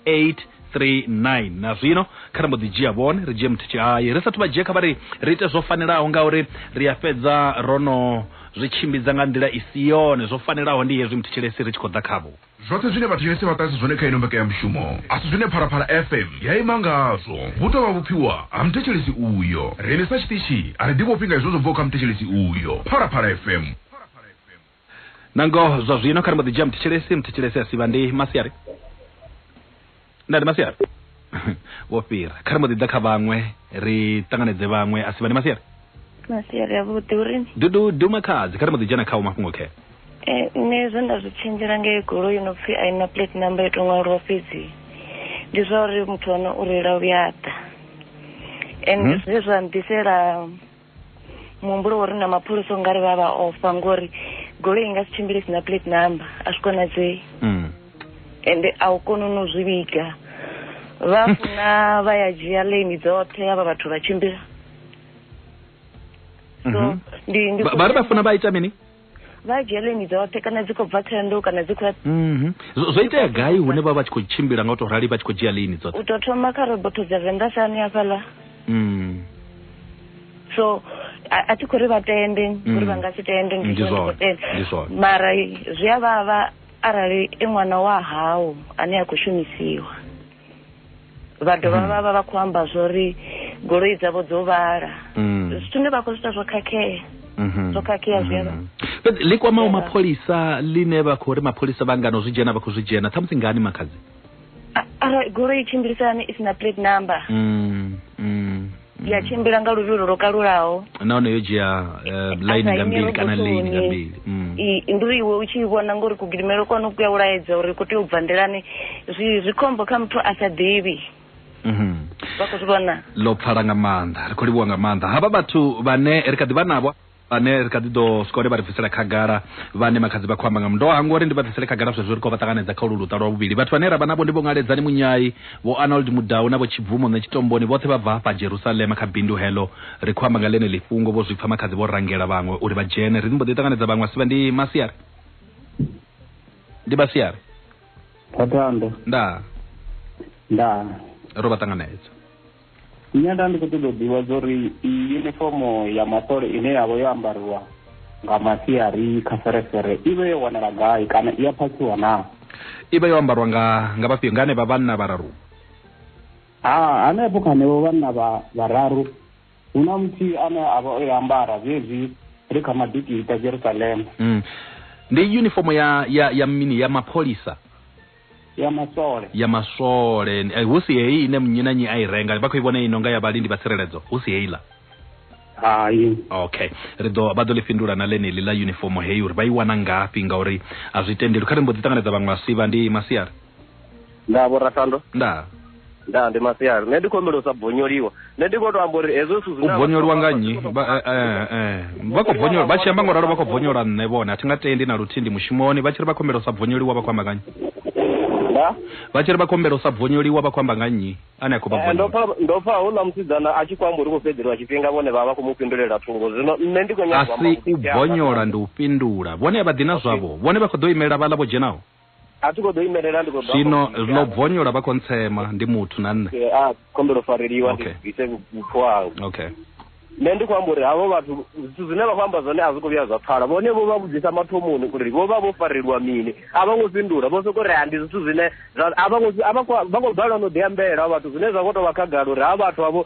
Speaker 1: 08 39 na zwino kha ri mbo ḓi dzhia vhone ri dzhie muthithi haye ri sathu vha dzhia kha vha ri ri ite zwo fanelaho ngauri ri a fhedza ro no zwi tshimbidza nga nḓila i si yone zwo fanelaho ndi hezwi muthetshelesi ri tshi khou ḓa khavho Zwoṱhe zwine vhathetshelesi vha ṱahisa zwone kha ino mbekanyamushumo a si zwine Phalaphala FM ya ima ngazwo. Hu tou vha vhupfiwa ha muthetshelesi uyo. Riṋe sa tshiṱitshi a ri ḓivhofhi nga hezwo zwo bvaho kha muthetshelesi uyo. Phalaphala FM. na ngoho zwa zwino kha ri mbo ḓi dzhia muthetshelesi muthetshelesi a sivha ndi masiari nda ndi masiari wo fhira kha ri mbo ḓi ḓa kha vhaṅwe ri ṱanganedze vhaṅwe a sivha ndi masiari masiari avhuḓi uri dudu duma khadzi kha ri mbo ḓi dzhena khawo mafhungo khe Eh, nṋe zwe nda zwi tshenzhela ngei goloi yo no pfhi a i na plate number yo to ṅwaliwa fhedzi ndi zwa uri muthu ono u reila u ya ḓa and Mhm. zwe zwa nḓisela muhumbulo wori na mapholisa u nga ri vha vha ofha ngori goloi i nga si tshimbile sina plate number a zwi konadzei mm. ende a u koni no zwi vhiga vha funa vha ya dzhia lane dzoṱhe havha vhathu vha tshimbila so mhm. ndi vha ri vha funa vha ita mini vha dzheleni dzoṱhe kana dzi khou bva thohoyandou kana dzi khou mhm. zwo itea gai hune vha vha tshi khou tshimbila nga u tou rali vha tshi khou dzhia lini dzoṱhe u tou thoma kha robotho dza venḓa sani hafhaḽa mhm. so a thi khou ri vha tende mhm. uri vha nga si tende mara zwi a vhavha arali i ṅwana wa hau ane a khou shumisiwa vha dovha vha vha vha khou amba zwo ri goloi dzavho dzo vhala Mm. zwithu zwine vha khou zwi ita zwo khakhea Mhm. zwo khakhea zwi a vha- Mhm. Fhedzi ḽi kwamaho Yeah. mapholisa ḽine vha khou ri mapholisa vha ngano zwi dzhena vha khou zwi dzhena ṱhamusi ngani makhadzi A- arali goloi i tshimbilisani i si na plate number Mm, mm. ya mm. tshimbila nga luvhilo lwo kalulaho nahone yo dzhia eh, line nga mbili kana lane nga mbili mm. ndi uri iwe u tshi vhona ngori kugidimelo kwanu ku ya u laedza uri ku tea u bva ndelani zwi khombo kha muthu a sa ḓivhi mhm. vha khou zwi vhona ḽo pfala nga maanḓa ri khou livhuwa nga maanḓa havha vhathu vhane ri kha ḓi vha navho vhane ri kha ḓi ḓo sikole vha ri bvisela khagala vhane makhadzi vha khou amba nga mundoa hango uri ndi vha bvisele khagala zwezwo ri khou vha ṱanganedza kha ulu luṱa lwa vhuvhili vhathu vhane ra vha navho ndi vho ngaledzani munyai vho anold mudau na vho tshibvumo nṋe tshitomboni vhoṱhe vha bva hafha jerusalema kha bindu heḽo ri khou amba nga ḽeneḽi fhungo vho zwi pfa makhadzi vho rangela vhaṅwe uri vha dzhene ri mbo ḓi ṱanganedza vhaṅwe asivha ndi masiari ndi masiari thathando ndaa ndaa ro vha ṱanganedza Nṋe nda ndi khou ṱoḓa u ḓivha zwa uri iyi unifomo ya masole ine ya vha yo ambariwa nga masiari kha feresere i vhe yo wanala gai kana i a phakhiwa naa i vha yo ambariwa nga nga vhafhio nga hanevha vhanna vhararu ha hanefho kha hanevho vhanna vha vhararu hu na muthihi ane a vha o i ambara zwezwi ri kha madikita jerusalema mm. ndi unifomo ya, ya, ya mini ya mapholisa ya maswole ya maswole eh, hu si heyi ine nnyi na nnyi a i renga vha khou i vhona i nonga ya vhalindi vha tsireledzo hu si heiḽa hai okay ri ḓo vha ḓo ḽi fhindula na ḽeneli ḽa uniform heyi uri vha i wana ngafhi ngauri a zwi tendeli kha ri mbo ḓi ṱanganedza vhaṅwe vhasivha ndi masiari nda vho rathando nda nda ndi masiari nṋe ndi khombela u sa bonyoliwa nṋe ndi kho to amba uri hezwo zwithu zwine u bonyoliwa nga nnyi eh, eh, eh. vha khou bonyola vha tshi amba ngoralo vha khou bonyola nṋe vhone a thi nga tendi na luthihi ndi mushumoni vha tshi ri vha khombela u sa bonyoliwa vha khou amba nga nnyi vha tshi ri vha khombela u sa bonyoliwa vha khou amba nga nnyi ane a khou vha ndo pfa hu na musidzana a tshi khou amba uri khou fhedzeliwa tshifhinga vhone vha vha khou mu fhindulela thungo zwino nṋe ndi khou nyaaasi u bonyola ndi u fhindula vhone a vha ḓi na zwavho vhone vha khou ḓo imelela vhaḽa vho dzhenaho A thi khou ḓo imelela ndi khou ḓo Zwino ḽo bvonyola vha kontsema ndi muthu na nṋe. A ah, kombelo fareliwa ndi bvise vhupfu hau. Okay. Nṋe ndi khou amba uri havho vhathu zwithu zwine vha khou amba zwone a zwi khou vhuya zwa pfala vhone vho vha vhudzisa mathomoni uri vho vha vho farelwa mini a vha ngo fhindula vho sokou ri a ndi zwithu zwine a vha khou balelwa no ḓiambela vhathu zwine zwa khou tou vha khagala uri ha vhathu avho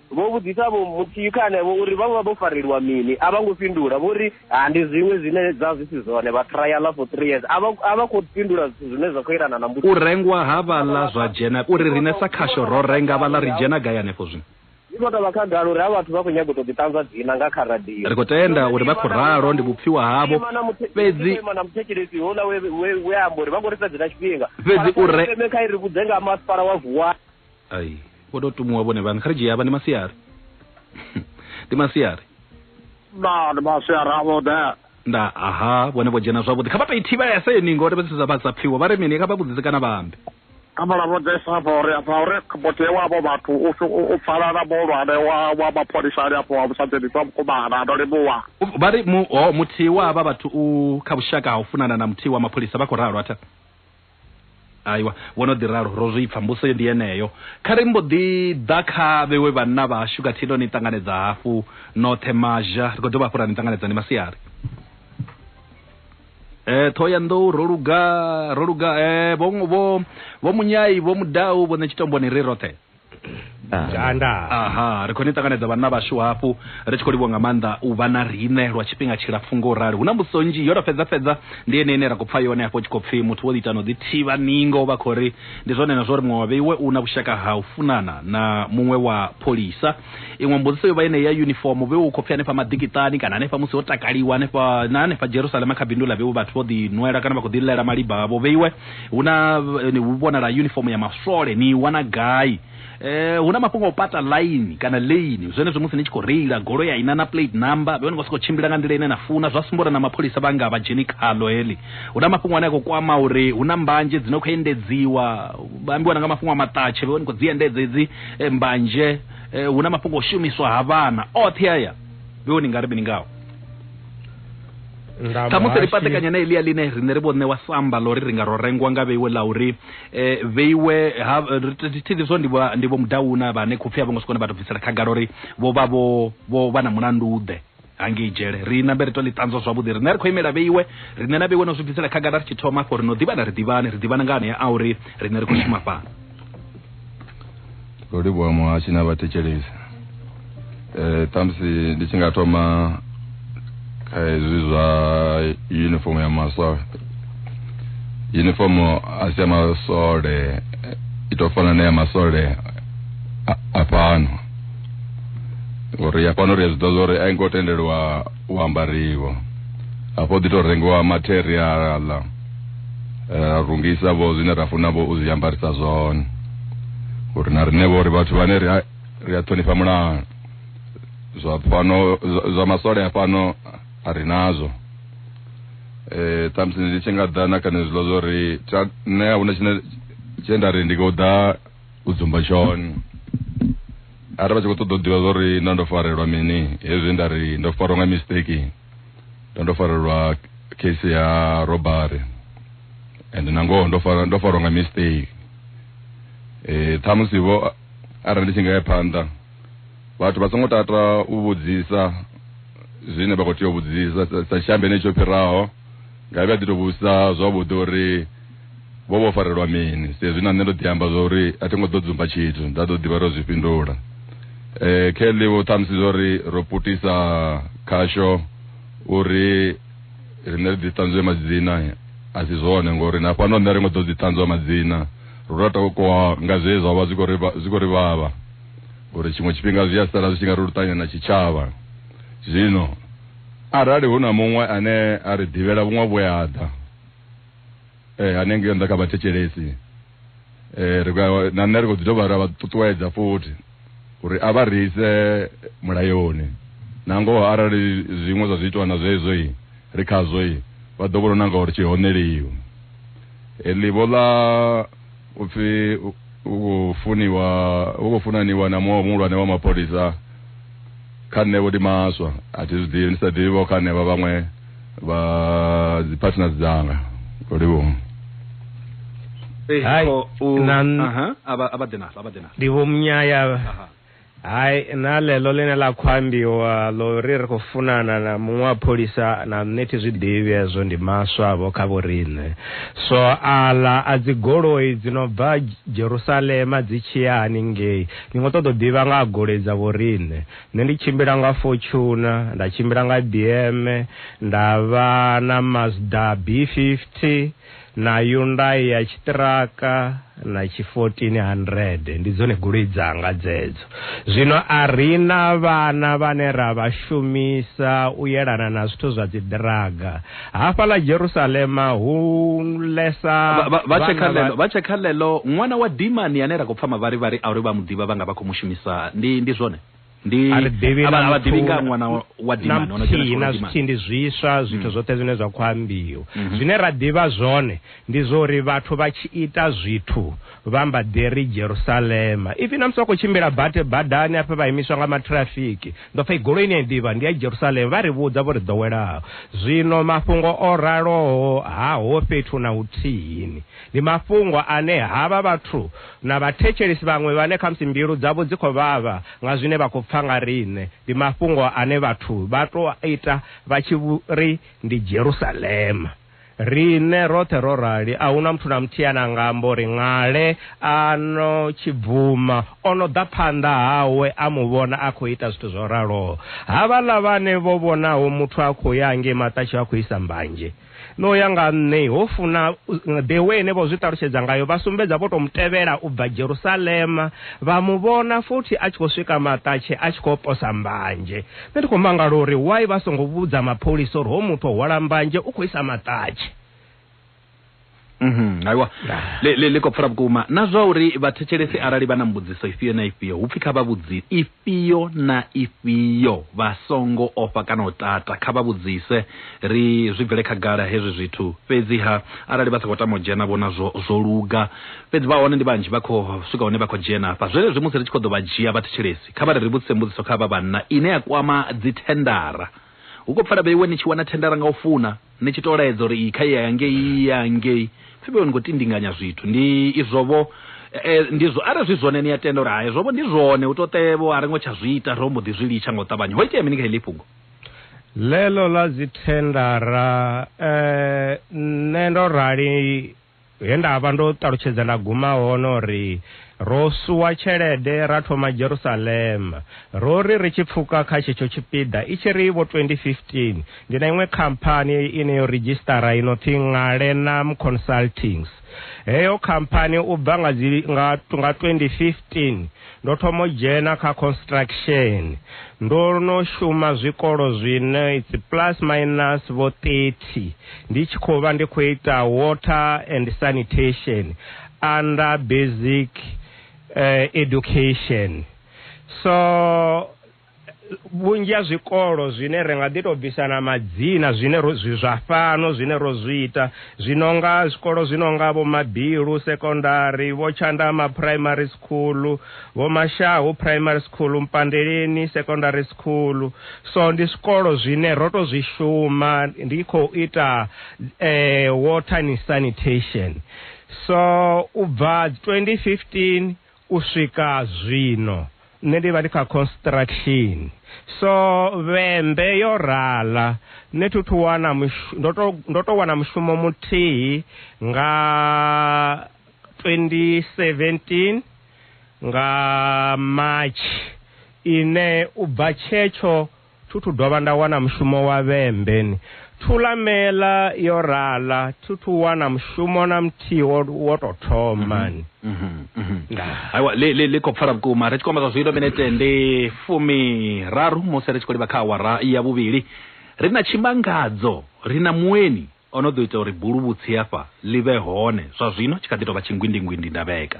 Speaker 1: Vho vhudzisa vho muthihi kha henevho uri vha vha vho farelwa mini, a vha ngo fhindula. Vho ri, Ha, ndi zwiṅwe zwine zwa zwi si zwone, vha trialer for three years. A vha, a vha khou fhindula zwithu zwine zwa khou yelana na mbudziso. U rengwa ha vhaḽa zwa dzhena, u ri riṋe sa khasho ro renga vhaḽa ri dzhena gai hanefho zwino? Zwi khou tou vha khagala uri havha vhathu vha khou nyaga u tou ḓiṱanzwa dzina nga kha radio. Ri khou tenda uri vha khou ralo, ndi vhupfiwa havho. Ima na muthe, Fhedzi, ima na muthetshelesi houḽa we, we, we a amba uri vha khou ri fhedzela tshifhinga. Fhedzi u re- Kha ri vhudze nga ha masipala wa Vuwani. ai vho tou tumuwa vhone vhaṋe kha ri dzhie avha ndi masiari ndi masiari na ndi masiari avhuḓe nda aha vhone vho dzhena zwavhuḓi kha vha tou i thivhese ni ngori vha sa vhasa pfhiwa vha ri mini kha vha vhudzise kana vha ambe kha vha lavhudzese afha uri afha uri muthihi wavho vhathu u pfala na muhulwane wa mapholisani afho wa musadzenisi wa mukumana ndo livhuwa vha ri muthihi wa havha vhathu u kha vhushaka ha u funana na muthihi wa mapholisa vha khou ralo atha Aiwa, vho no ḓi ralo, ro zwi pfa. Mbuso ndi yeneyo. Kha ri mbo ḓi ḓa kha vhewe vhanna vhashu khathihi no ni ṱanganedza hafhu noṱhe mazha. Ri khou dovha hafhu ra ni ṱanganedza ndi masiari. Eh, Thohoyanḓou, ro luga, ro luga. Eh, vho, vho, vho Munyai, vho Mudau, vho Ṋetshitomboni, ri roṱhe. Janda. aha ri khou ni ṱanganedza vhanna vhashu hafhu ri tshi khou livhuwa nga maanḓa u vha na riṋe lwa tshifhinga tshilapfu ngo rali hu na mbudziso nzhi yo to fhedza fhedza ndi ene ine ra khou pfa yone hafho tshi khou pfi muthu wo ḓiitana u ḓi thivha ningo vha khou ri ndi zwone na zwo ri muṅwe wa vheiwe u na vhushaka ha u funana na muṅwe wa pholisa iṅwe mbudziso yo vha ine ya uniform vheiwe u khou pfi hanefha maḓikiṱani kana hanefha musi ho takaliwa hanefha na hanefha jerusalema kha bindu ḽa vheiwe vhathu vho ḓi nwela kana vha khou ḓi ḽela maliba avho vheiwe hu na eh, ni hu vhonala uniform ya maswole ni i wana gai eh hu na mafhungo o pata line kana lane zwenezwo musi ni tshi khou reila golo ya ina na plate number vhe ni khou sokou tshimbila nga nḓila ine na funa zwa sumba uri na mapholisa vha nga vha dzheni khalo heḽi hu na mafhungo ane a khou kwama uri hu na mbanje dzi no khou endedziwa vha ambiwa na nga mafhungo a maṱatshe vhe ni khou dzi endedza edzi eh, mbanje eh, hu na mafhungo o shumiswa ha vhana oṱhe aya vhe ni nga ri mini ngao ṱhamusi ri patekanya na elia ḽine riṋe ri vho ṋewa samba ḽo ri ri nga ro rengwa nga vheiwe ḽa uri um eh, vheiwe thithini zwo ndi vho mudauna vhane khopfi a vho ngo sokone vha to bvisela khagala uri vho vha vho vha na mulandu ḓe hangei dzhele ri nambe ri to ḽi ṱanzwa zwavhuḓi riṋe ri khou imela vheiwe riṋe na vheiwe no zwi bvisela khagala ri tshi thoma afho ri no ḓivhana ri ḓivhane ri ḓivhana nga anea a uri riṋe ri khou shuma fhano ro livhuwa muhashi na vhathetshelesi um ṱhamusi ndi tshi nga thoma kha hezwi zwa uniform ya masole uniform a si ya masole i tou fana na ya masole a fhano uri ya fhano ri a zwi ḓivha zwa uri a i ngo tendeliwa u ambariwa hafha u ḓi tou rengiwa materiaḽa ra rungisa vho zwine ra funa vho u zwi ambarisa zwone uri na riṋe vho ri vhathu vhane ri a ri a ṱhonifha mulayo zwa fhano zwa masole a fhano a ri nazwo eh ṱhamusi ndi tshi nga ḓa na kha nezwiḽo zwo ri nṋe a huna tshine tshe nda ri ndi khou ḓa u dzumba tshone arali vha tshi khou ṱoḓa u ḓivha zwa uri nda ndo farelwa mini hezwi nda ri ndo farwa nga mistake nda ndo farelwa case ya robbery and na ngoho ndo farwa ndo farwa nga mistake eh ṱhamusi vho arali ndi tshi nga ya phanḓa vhathu vha songo tata u vhudzisa zwine vha khou tea u vhudzisa sa tshiambe ne tsho fhiraho nga vha ḓi to vhudzisa zwavhuḓi uri Vho vho farelwa mini? Saizwi na nṋe ndo ḓi amba zwa uri a thi ngo ḓo dzumba tshithu, nda ḓo ḓivha ro zwi fhindula. E, Kelly vho ṱhamusi zwa uri ro putisa khasho uri riṋe ri ḓi ṱanzwe madzina, a si zwone, ngori na fhano nṋe ri ngo ḓo dzi ṱanzwa madzina. Ro tou takuwa nga zwe zwa vha zwi khou ri zwi khou ri vhavha uri tshiṅwe tshifhinga zwi a sala zwi tshi nga ri luṱanya na tshitshavha. Zwino arali hu na muṅwe ane a ri ḓivhela vhuṅwe vhuaḓa, eh, hanengei nda kha vhathetshelesi eh, ri khou- na nṋe ri khou ḓi dovha ra vha ṱuṱuwedza futhi uri a vha ri ise mulayoni na ngoho arali zwiṅwe zwa zwiitwa na zwezwo i ri khazwo i vha ḓo vhona na ngauri tshihoneliwi heḽi vho ḽa upfi u khou funiwa u khou funaniwa na muṅwe muhulwane wa mapholisa kha nṋe vho ndi maswa a thi zwi ḓivhi ndi sa ḓivhi vho kha nṋe vha vhaṅwe vha dzi partners dzanga o livhuwa Hai, na- ndi vho munyaya hai na ḽeḽo ḽine ḽa khou ambiwa ḽo ri ri khou funana na muṅwe wa pholisa na nṋe thi zwi ḓivhi hezwo ndi maswa vho kha vho riṋe so aḽa a dzi goloi dzi no bva jerusalema dzi tshi ya haningei ndi ngo ṱoḓa u ḓivha nga ha goloi dza vho riṋe nṋe ndi tshimbila nga fortuna nda tshimbila nga bm nda vha na mazda b 50 na Hyundai ya tshiṱiraka na tshi 1400 ndi dzone goloi dzanga dzedzo zwino a rina vhana vhane ra vha shumisa u yelana na zwithu zwa dzi draga hafha ḽa Jerusalema hu lesa vha tshe kha lelo vha tshe kha lelo ṅwana wa dimani ane ra khou pfa mavharivhari a uri vha muḓivha vha nga vha khou mushumisa ndi ndi zwone ndi a ri ḓivhi a vha- na a vha ḓivhi nga muthu- ṅwana wa- wa na dimani, ono dzhena muthihi tshikolo na dimani. zwithihi ndi zwiswa zwithu zwoṱhe zwine zwa khou ambiwa Mhm. zwine ra ḓivha zwone ndi zwa uri vhathu vha tshi ita zwithu vha mba ḓi ri jerusalema ifi na musi vha khou tshimbila bate badani afha vha imiswa nga matrafiki ndo pfa igoloi ine ya ḓivha ndi ya jerusalema vha ri vhudza vho ri ḓowelaho zwino mafhungo o raloho ha ho fhethu na huthihini Ndi mafhungo ane havha vhathu na vhathetshelesi vhaṅwe vhane khamusi mbilu dzavho dzi khou vhavha nga zwine vha khou pfa nga riṋe, ndi mafhungo ane vhathu vha tou a ita vha tshi ri ndi Jerusalema. Riṋe roṱhe ro rali, a hu na muthu na muthihi ane a nga amba uri ṅale a no tshi bvuma o no ḓa phanḓa hawe a mu vhona a khou ita zwithu zwo raloho. Havhaḽa vhane vho vhonaho muthu a khou ya hangei maṱatshiwa a khou isa mbanzhe, No ya nga nṋe, ho funa. The way ine vho zwi ṱalutshedza ngayo, vha sumbedza vho tou mu tevhela u bva Jerusalema, vha mu vhona futhi a tshi khou swika maṱatshe a tshi khou posa mbanzhe. Nṋe ndi khou mangala uri why vha songo vhudza mapholisa uri hoyu muthu o hwala mbanzhe u khou isa maṱatshe. Mhm, aiwa Ah. le, le, le khou pfara vhukuma na zwa uri vhathetshelesi arali vha na mbudziso ifhio na ifhio hu pfi kha vha vhudzi ifhio na ifhio vha songo ofha kana u tata kha vha vhudzise ri zwi bvele khagala hezwi zwithu fhedziha arali vha sa khou tama u dzhena vhona zwo, zwo luga fhedzi vha hone ndi vhanzhi vha khou swika hune vha khou dzhena hafha zwenezwi musi ri tshi khou ḓo vha dzhia vhathetshelesi kha vha ri ri vhudzise mbudziso kha vha vhanna ine ya kwama dzithendara Hu khou pfala vheiwe ni tshi wana thendara nga u funa, ni tshi tou laedza uri iyi kha i ye hangei, iyi i ye hangei. Pfi vheiwe ni khou tindinganya zwithu. Ndi izwo-vho. E, ndi zwo. Arali zwi zwone ni a tenda uri ha hezwo-vho ndi zwone, hu tou ṱe-vho a ri ngo tsha zwi ita, ro mbo ḓi zwi litsha nga u ṱavhanya. Ho itea mini kha heḽi fhungo? Ḽeḽo ḽa dzithendara, e, nṋe ndo rali. He nda vha ndo ṱalutshedza nda guma hone o ri, Ro suwa tshelede ra thoma Jerusalema. Ro ri ri tshi pfuka kha tshetsho tshipiḓa, i tshi ri vho 2015, ndi na iṅwe khamphani ine yo ridzhisṱara i no pfi Ngalenam Consultings. Heyo khamphani u bva nga dzi, nga, nga 2015, Ndo thoma u dzhena kha construction. Ndo no shuma zwikolo zwine it's plus minus vho 30 ndi tshi khou vha ndi khou ita water and sanitation under basic uh, education. So vhunzhi ha zwikolo zwine ri nga ḓi tou bvisa na madzina zwine zwi zwa fhano zwine ro zwi ita zwi no nga zwikolo zwi no nga vho mabilu sekondari vho tshandama primary school vho mashahu primary school mpandeleni secondary school so ndi zwikolo zwine ro tou zwi shuma ndi khou ita eh, water and sanitation so u bva 2015 U swika zwino nṋe ndi vha ndi kha construction so vhembe yo rala nṋe thi thu wana ndo to ndo to wana mushumo muthihi nga 2017 nga March ine u bva tshetsho Thu thu dovha nda wana mushumo wa vhembe-ni. Thulamela yo rala, Thu thu wana mushumo na muthihi wo, wo tou thoma-ni. Ndaa. aiwa ḽi ḽi- ḽi khou pfala vhukuma ri tshi khou amba zwa zwino minete ndi fumiraru musi ri tshi khou livha kha awara ya vhuvhili ri na tshimangadzo ri na mueni o no ḓo ita uri buluvhutsi hafha ḽi vhe hone zwa zwino tshi kha ḓi tou vha tshingwindingwindi ndavheka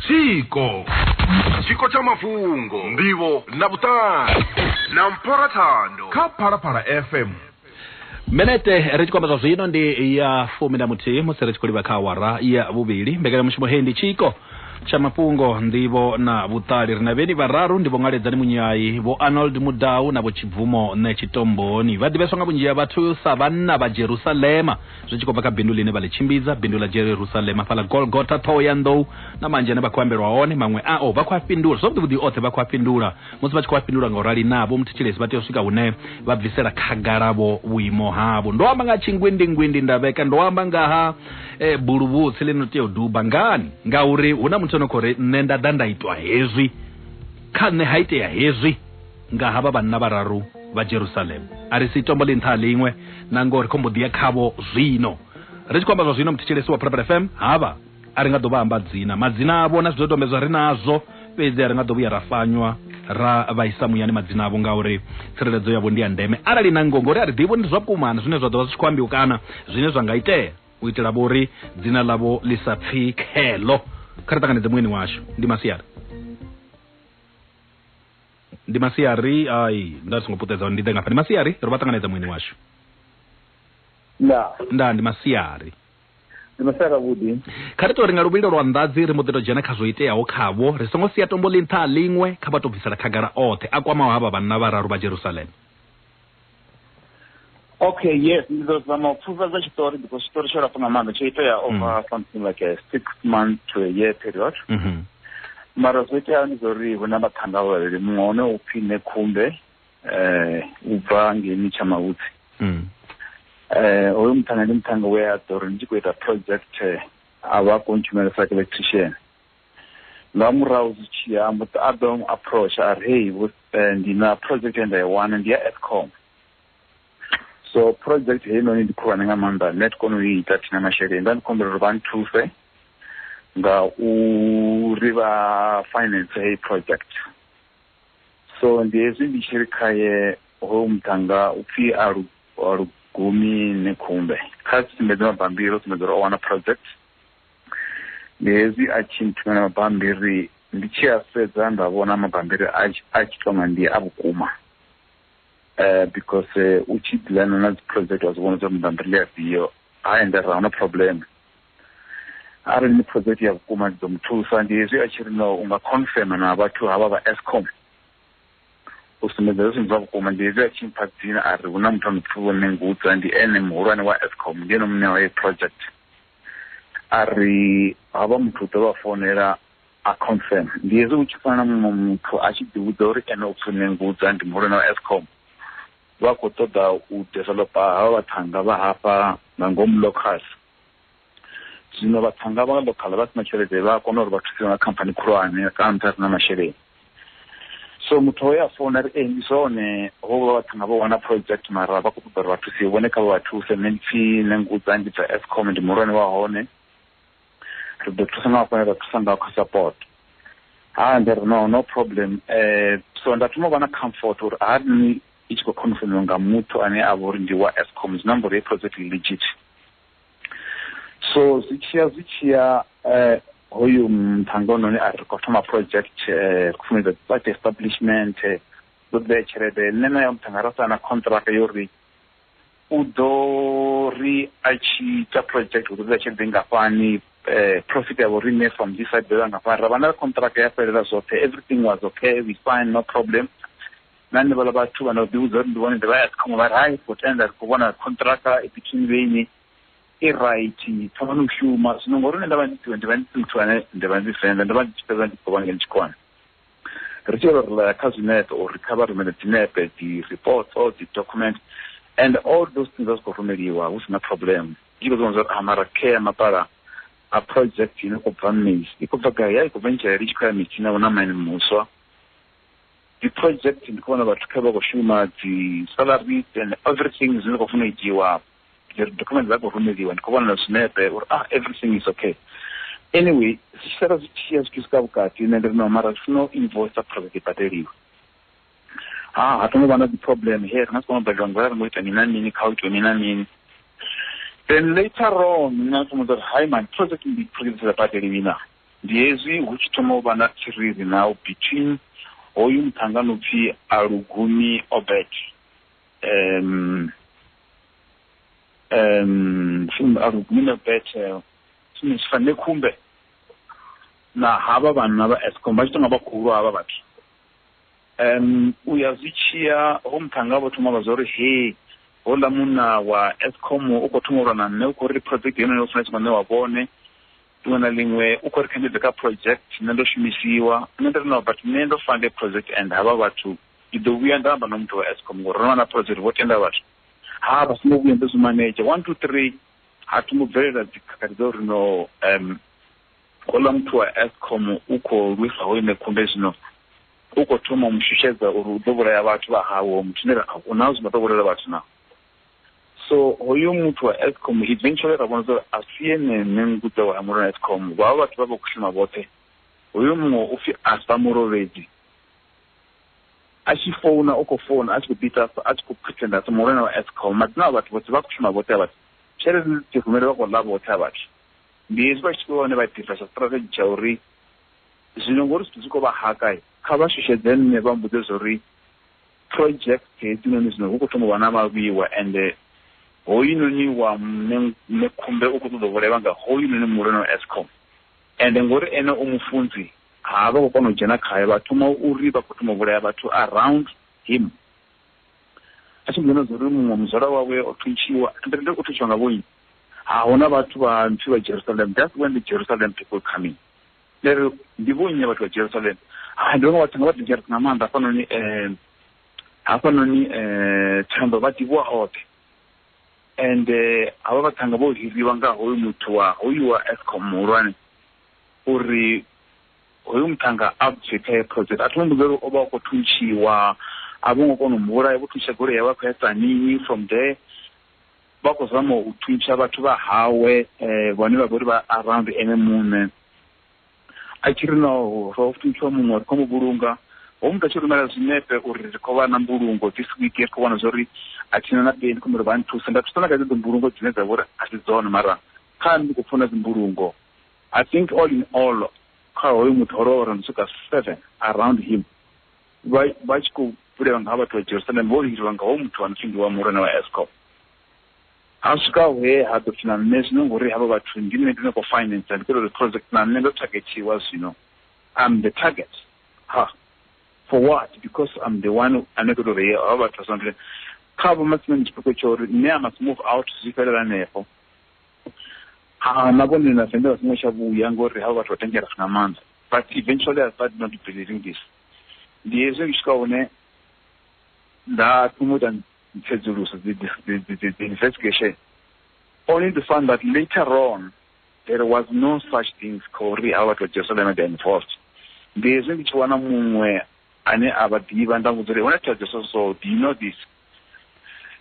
Speaker 1: tshiko tshiko tsha mafhungo ndivho na vhuṱali na mpora thando kha phalaphala fm minete ri tshi kwamba zwa zwino ndi ya fumi na muthihi musi ri tshi khou livha kha awara ya vhuvhili mbekanyamushumo hei ndi tshiko tsha mafhungo ndivho na vhuṱali ri na vheni vhararu ndi vho ngaledzani munyayi vho arnold mudau na vho tshibvumo nṋe tshitomboni vha ḓivheswa nga vhunzhi ha vhathu sa vhanna vha jerusalema zwi tshi khou bva kha bindu ḽine vha ḽi tshimbidza bindu ḽa jerusalem afhaḽa golgota ṱhoho ya nḓou na manzhi ane vha khou ambelwa hone maṅwe ao vha khou a fhindula zwavhuḓivhuḓi oṱhe vha khou a fhindula musi vha tshi khou a fhindula nga u rali na vho muthetshelesi vha tea u swika hune vha bvisela khagalavo vhuimo havho ndo amba nga tshingwindingwindi ndavheka ndo amba nga ha e, buluvhutsi ḽino tea u duba ngani ngauri hu na muthu ano khou ri nṋe nda ḓa nda itwa hezwi kha nṋe ha itea hezwi nga havha vhanna vhararu vha Jerusalem a ri si tombo ḽi nṱha ha ḽiṅwe na ngoho ri khombo ḓi ya khavho zwino ri tshi khou amba zwa zwino muthetshelesi wa Purple FM havha a ri nga ḓo vha amba dzina madzina avho na zwidodombedzwa ri nazwo fhedzi a ri nga ḓo vhuya ra fanywa ra vhaisa muyani madzina avho ngauri tsireledzo yavho ndi ya ndeme arali na ngoho ngori a ri ḓivhi ndi zwa vhukuma na zwine zwa ḓo vha zwi tshi khou ambiwa kana zwine zwa nga itea u itela vhori dzina ḽavho ḽi sa pfi khelo kha ri ṱanganedze muyeni washu ndi masiari ndi masiari ai nda ri songo puṱedza ndi ḓe ngafha ndi masiari ri vha ṱanganedza muini washu nda nda ndi masiari ndi masiari avhuḓi kha ri to ri nga luvhilo lwa nḓadzi ri mbo ḓi to dzhena kha zwo iteaho khavho ri songo sia tombo ḽi nṱha a ḽiṅwe kha vha to bvisela khagala oṱhe a kwamaho havha vhanna vhararu vha jerusalema Okay, yes, ngizozama ukupfufadza chitori because chitori chorapa nga maanḓa tsho itea mm. over mm. something like a six month to a year period mm -hmm. mara zwo iteaho ndi zvauri hu na vhaṱhanga vhavhili muṅwe hone u pfhi nekhumbe um u bva ngeni tsha mavhutsi um hoyo muṱhanga ndi muṱhanga we a ḓo ri ndi tshi khou ita project eh, a vha a khou ntshumela sa electrician nga murahu zwi tshi ya mbo a ḓo approach a ri hey eh, ndi na project ye nda i wana ndi ya escom so project heinoni ndi khulwane nga maanḓa nṋe ti kone u i ita thina masheleni nda ndi khombela uri vha nthuse nga uri vha finance heyi project so ndi hezwi ndi tshi ri khaye hoyu muṱhanga u pfhi a lugumi ni khumbe kha sumbedze mabambiri o sumbedza uri o wana project ndi hezwi a tshi nthumela mabambiri ndi tshi a sedza nda vhona mabambiri a tshi tonga ndi a vhukuma um because eh, u tshi dilana na dziproject wa zwi vhona zwa mabambiri ndi afhio ha endera huna problem arali ni project ya vhukuma ndi ḓo mu thusa ndi hezwi a tshi ri no u nga confirma na vhathu havha vha escom u sumbedza zwi zwa vhukuma ndi hezwi a tshi mpha dzina a ri hu na muthu a no pfhi vho nengudza ndi ene muhulwane wa escom ndi ene muṋe wa heyi project a ri havha muthu u ḓo vha founela a confirm ndi hezwi hu tshi fana na muṅwe muthu a tshi ḓivhudza uri ene u pfi Nengudza ndi muhulwane wa Eskom vha khou ṱoḓa u developer havha vhaṱhannga vha hafha nga ngomu locals zwino vhaṱhannga vha local vha si na tshelede vha a kona uri vha thusiwe nga khamphani khulwane kana muthu a si na masheleni so muthu hoyo a founa ri ee ndi zwone hovha vhathu nga vho wana project mara vha khou ṱoḓa uri vha thusiwe vhone kha vha vha thuse nṋe ndi pfi nṋe ngudza ndi bva escom ndi muhulwane wa hone ri ḓo thusa nga hafhane ra thusa nga kha support ha ndi ri no no problem um so nda thoma u vha na comfort uri ha ni i tshi khou khonfemiwa nga muthu ane a vha uri ndi wa escom zwi na mbori ye project legit so zwi tshiya zwi tshiya eh, hoyu mthanga ononi a ri khou thoma project eh, khou funedza site establishment eh, ḓo ḓea tshelede nṋe na ya mthanga ra sana contract yo ri u ḓo ri a tshi ita project u ḓo ḓa tshelede ngafhani eh, profit yavho riṋe from this side ḓoya ngafhani ra vha na contract ya fhelela zwoṱhe everything was okay we fine no problem na henevhaḽa vhathu vha no ḓi vhudza uri ndi vhone ndi vha ya ṱhanwe vhari hai ri khou tenda ri khou vhona khonṱhiraka i between vheiṋi i raithi thomani u shuma zwino ngori nṋe nda vha ndi siwe ndi vha ndi si muthu ane ndi vha ndi venḓa ndo vha ndi tshi fhedza ndi khou vha ngeno tshikona ri tshi yolo rilaya kha zwinepe uri kha vha rumele dzinepe dzi reports or dzi document and all those things a zwi khou rumeliwa hu sina problem ndi khou zwiwana zwa uri amara ah, care mapala a project ine khou bva mmisi i khou bva gai ya i khou bva ntshelele i tshi khou ya mitsina hu na mine muswa dzi project ndi khou vhona vhathu kha vha khou shuma dzi salaries and everything zwine khou funa u itiwa dzi document dza khou rumeliwa ndi khou vhona na zwinepe uri ah everything is okay anyway zwi sala zwi tshi ya zwi tshi swika vhukati nṋe ndi ri no mara zwi funa u invoice project i badeliwe ha ha tongo vha na dzi problem he ri nga si kona u badeliwa ngori ri ngo ita mini na mini kha u itiwe mini na mini then later on nṋe a funa uri hai man project ndi project dza badeliwi na Ndi hezwi hu tshi thoma u vha na thiriri na u between hoyu muṱhannga no pfi Alugumi Obert um um Alugumi Obert tshine tshi fanne khumbe na havha vhanna vha Eskom vha tshi tonga vha khulu havha vhathu um u ya zwi tshiya ho muṱhannga vho thoma vha zwa uri he hola munna wa Eskom u kho thoma u lwa na nṋe u kho ri project yeneyo u funa tshi khou ṋewa vhone ḽiṅwe na ḽiṅwe u khou ri kha ndi ḓe kha project nṋe ndo shumisiwa nṋe ndi ri no but nṋe ndo fande project and havha vhathu ndi ḓo vhuya nda amba na muthu wa escom ngori ro vha na project vho tenda vhathu ha vha songo vhuya ndo zwi manedzha one two three ha thi ngo bvelela dzikhakhathi dza uri no um khouḽa muthu wa escom u khou lwisa ho ine khunde zwino u khou thoma u mu shushedza uri u ḓo vhulaya vhathu vha hawe muthu ne ra a hu na zwino ḓo vhulaya vhathu na so hoyo muthu wa escom eventually ra vhona zwa uri a si ene nṋe ngudza wa mulilo na escom vha vha vhathu vha vha khou shuma vhoṱhe hoyo muṅwe u pfi asa murovhedzi a tshi founa u khou founa a tshi khou bita a tshi khou pretenda sa mulilo na escom madzina a vhathu vhoṱhe vha khou shuma vhoṱhe a vhathu tshelede dzi rumele vha khou ḽa vhoṱhe a vhathu ndi hezwi vha tshi vhone vha ḓisa tsha strategy tsha uri zwino ngori zwithu zwi khou vha haka kha vha shushedze nṋe vha mbudze zwa uri project hedzinoni zwino hu khou thoma u vha na vhavhiwa ende hoyunoni wa mme mme khumbe u khou ṱoḓa u vhulaiwa nga hoyunoni muhulwane wa escom ende ngori ene u mufunzi ha vha khou kona u dzhena khayo vha thoma uri vha khou thoma u vhulaya vhathu around him a tshi mboḓi na zwa uri muṅwe muzwala wawe o thuntshiwa ende ende u thuntshiwa nga vhonyi ha huna vhathu vha nthu vha jerusalem that's when the jerusalem people coming Nda ri, Ndi vhonnyi vhathu vha Jerusalema? Hai, ndo no vha thanga vha dangerous nga maanḓa hafhanoni um hafhanoni um Thambo vha ḓivhiwa hoṱhe. Ende havha vhaṱhannga vho hiriwa nga hoyu muthu wa hoyu wa Eskom muhulwane uri hoyu muṱhannga a bve kha heyo project. A thi ngo mmbudza uri o vha a khou thuntshiwa, a vho ngo kona u mu vhulaya, vho thuntsha goloi yawe a khou ya Tzaneen from there. vha khou zama u thuntsha vhathu vha hawe eh, vhane vha vhori vha around ene muṋe a tshi ri no ro thuntshiwa muṅwe ri khou mu vhulunga ho muthu a tshi rumela zwinepe uri ri khou vha na mbulungo this week ri khou vhona zwa uri a thina na peni khombe uri vha nthusa nda thusa na kha dzedzo mbulungo dzine dza vha uri a si dzone mara kha ndi khou funa dzimbulungo i think all in all kha hoyo muthu ho lovha ro no swika seven around him vha vha tshi khou bulela nga ha vhathu vha Jerusalema vho lindeliwa nga hoyu muthu a no pfi ndi wa muhulwane wa Eskom. Ha swika he ha ḓo pfi na nṋe zwino ngori havha vhathu ndi nṋe ndi no khou finance ndi khou ita uri project na nṋe ndo targetiwa zwino I'm the target ha for what because I'm the one ane khou ita uri havha vhathu vha sonde kha vho matsime ndi tshipikwa tsha uri nṋe I must move out zwi fhelela hanefho ha na vhone na sendela songo tsha vhuya ngori havha vhathu vha tengela nga maanḓa but eventually I started not believing this ndi hezwi ndi swika hune nda thoma u ita tsedzuluso dzi investigation only to find that later on there was no such things khori a vhathu vha jerusalem and involved ndi hezwi ndi tshi wana muṅwe ane a vha ḓivha nda muvhudza uri hone thaidzo so so do you know this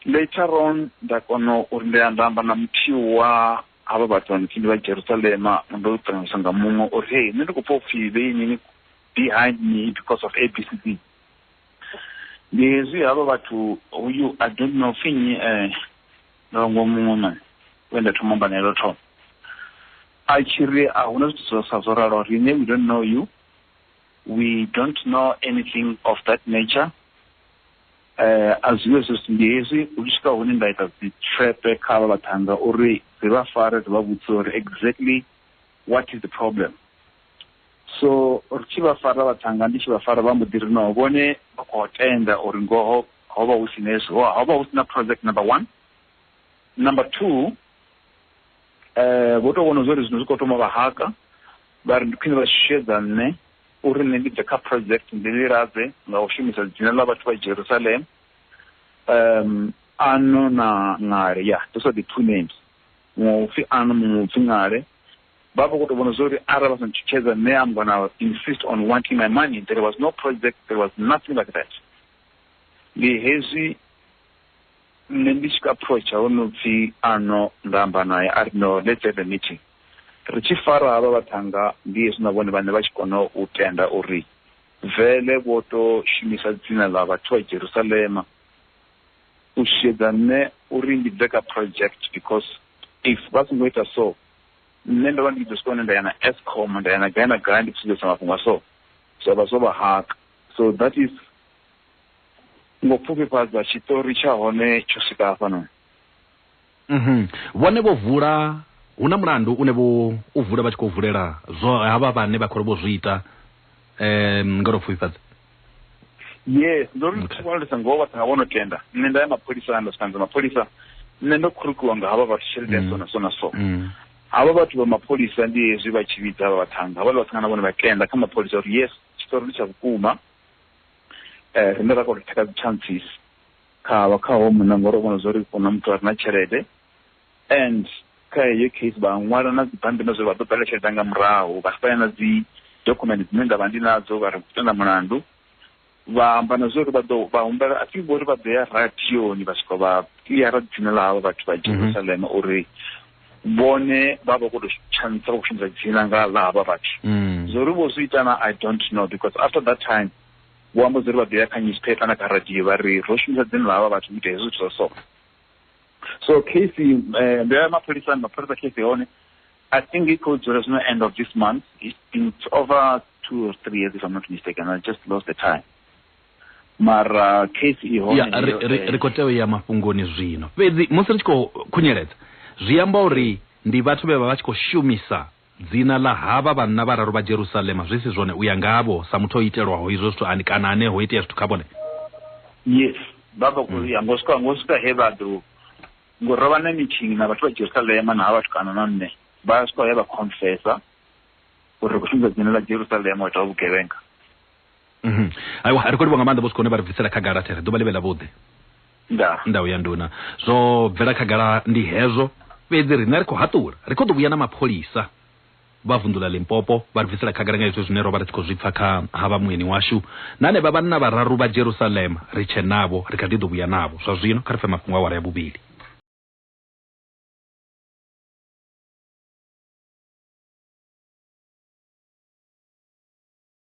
Speaker 1: later on nda kona uri ndi nda amba na muthihi wa havha vhathu vha ndi vha jerusalema ndo ṱanganyisa nga muṅwe uri hei nṋe ndi khou pfa upfhi vheinini behind me because of ABCD. Ndi hezwi havha vhathu uyu I don't know pfi nnyi eh ndongo muṅwe mani we nda thoma amba naye lwo thoma. A tshi ri a huna zwithu zwo sa zwo ralo riṋe we don't know you we don't know anything of that nature eh a zwiwe zwo ndi hezwi u tshi swika hune nda ita dzi tshepe kha vha vhathanga uri ri vha fare ri vha vhudze uri exactly what is the problem so ri tshi vha fara vhathanga ndi tshi vha fara vha mbo ḓi ri no vhone vha khou tenda uri ngoho ho vha hu si na hezwi ho vha hu si na project number one number two um vho tou vhona zwa uri zwino zwi khou thoma vha haka vha ri ndi khwine vha shushedza nṋe uri nṋe ndi bve kha project ndi ḽi ladze nga u shumisa dzina ḽa vhathu vha jerusalem um ano na ngale ya ndo sa ḓi two names muṅwe upfi ano muṅwe upfi ngale vha vha khou tou vhona zwori arali vha sa ntshutshedza nṋe am gonna insist on wanting my money there was no project there was nothing like that ndi hezwi nṋe ndi tshi approacha ho no pfhi ano nda amba naye a ri no let's have a meeting ri tshi fara havha vhathanga ndi hezwi na vhone vhane vha tshi kona u tenda uri vele vho to shumisa dzina ḽa vhathu vha jerusalema u shushedza nṋe uri ndi bve kha project because if vha songo ita so nṋe ndo vha ndi tshi ḓo swika hune nda ya na Eskom nda ya na gai na gai ndi khou sumbedzisa mafhungo a so zwa vha zwo vha haka so that is ngo pfufhifhadza tshiṱori tsha hone tsho swika hafhanoni mhm. vhone vho vula hu na mulandu une vho u vula vha tshi khou vulela zwo havha vhane vha khou ri vho zwi ita um nga lwo pfufhifhadza yes ndo ri ndi vhona ndi sa ngoho vhathu havho no tenda nṋe nda ya mapholisa nda swika nza mapholisa nṋe ndo khurukiwa nga havha vhathu tshelede ya mm. so na so na so mm. havha vhathu vha mapholisa ndi hezwi vha tshi vhidza havha vhathanga havhala vhathanga na vhone vha tenda kha mapholisa uri yes tshitori ndi tsha vhukuma um rine ra kona u theka dzi chances kha vha kha ho munna ngori o vhona zwa uri u na muthu a re na tshelede And kha heyo case vha ṅwala na dzibammbiri zwe vha ḓo ṱalutshedza nga murahu vha saina dzi document dzine nda vha ndi nadzo vha ri khou tenda mulandu vha amba na zwa uri vha ḓo vha humbela a thi vhori vha ḓo ya radioni vha swika vha kiḽiara dzina ḽa havha vhathu vha mhm. jerusalema uri vhone vha vha khou tou tshanisa vha khou shumisa dzina nga ḽa havha vhathu mm. zwo ri vho zwi itana i don't know because after that time vho amba zwa uri vha ḓo ya kha newspaper na kha radio vha ri ro shumisa dzina ḽa havha vhathu u ita hezwo zwithu zwa so so case eh, ndo ya mapholisani mapholisa case ya hone i think i khou dzula zwino end of this month it's been over two or three years if i'm not mistaken i just lost the time mara case i hone ya ri- heyo, ri- eh, ri khou tea u ya mafhungoni zwino fhedzi musi ri tshi khou khunyeledza zwi amba uri ndi vhathu vhe vha vha tshi khou shumisa Dzina ḽa havha vhanna vhararu vha Jerusalema, zwi si zwone u ya ngavho, sa muthu o itelwaho izwo zwithu ani, kana ane ho itea zwithu kha vhone? Yes, vha vha khou ya ngo swika, ngo swika he vha ḓo, ngo ro vha na meeting na vhathu vha Jerusalema na ha vhatukana na nṋe, vha swika he vha confessa uri ri khou shumisa dzina ḽa Jerusalema u ita vhugevhenga. Mhm. aiwa ri khou livha nga maanḓa vho sikone vha ri bvisela khagala there ḓuvha ḽivhe ḽa vhuḓi nda ndau ya nduna zwo bvela khagala ndi hezwo fhedzi riṋe ri khou haṱula ri khou ḓo vhuya na mapholisa vha vunḓu ḽa limpopo vha ri bvisela khagala nga hezwo zwine ro vha ri tshi khou zwi pfa kha ha vha mueni washu na hanevha vhanna vhararu vha jerusalema ri tshe navho ri kha ḓi ḓo vhuya navho zwa zwino kha ri pfe mafhungo awara ya vhuvhili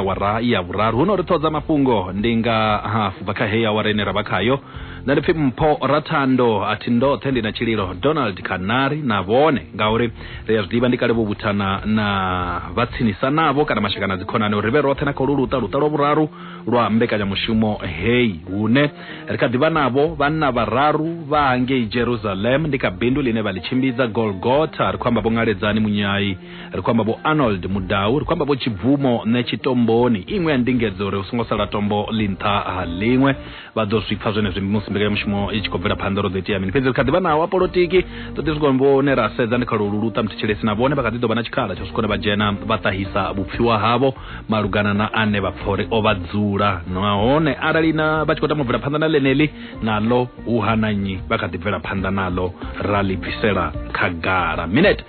Speaker 1: awara ya vhuraru huno ri ṱhodza mafhungo ndi nga hafu bva kha heyi awara ine ra vha khayo nda ndi pfi mpho rathando a thi ndoṱhe ndi na tshililo donald kanari na vhone ngauri ri a zwi ḓivha ndi kale vho vhuthana na vha tsinisa navho kana mashaka na dzikhonani uri ri vhe roṱhe na kholu luṱa luṱa lwa vhuraru lwa mbekanyamushumo heyi hune ri kha ḓivha navho vhanna vhararu vha hangei jerusalem ndi kha bindu ḽine vha ḽi tshimbidza golgotha ri khou amba vho ngaledzani munyai ri khou amba vho arnold mudau ri khou amba vho tshibvumo nṋe tshitomboni iṅwe ya ndingedzo uri hu songo sala tombo ḽi nṱha ha ḽiṅwe vha ḓo zwi pfa zwenezwi musi mbekanyamushumo i tshi khou bvela phanḓa ro ḓo itea mini fhedzi ri kha ḓi vha nawo a polotiki ḓo ḓi swika vhone ra sedza ndi kha lwo luluṱa muthetshelesi na vhone vha kha ḓi ḓo vha na tshikhala tsha swikone vha dzhena vha ṱahisa vhupfiwa havho malugana na ane vha pfa uri o vha dzula nahone arali na vha tshi khou tama u bvela phanḓa na ḽeneḽi naḽo hu hana nnyi vha kha ḓi bvela phanḓa naḽo ra ḽi bvisela khagala minete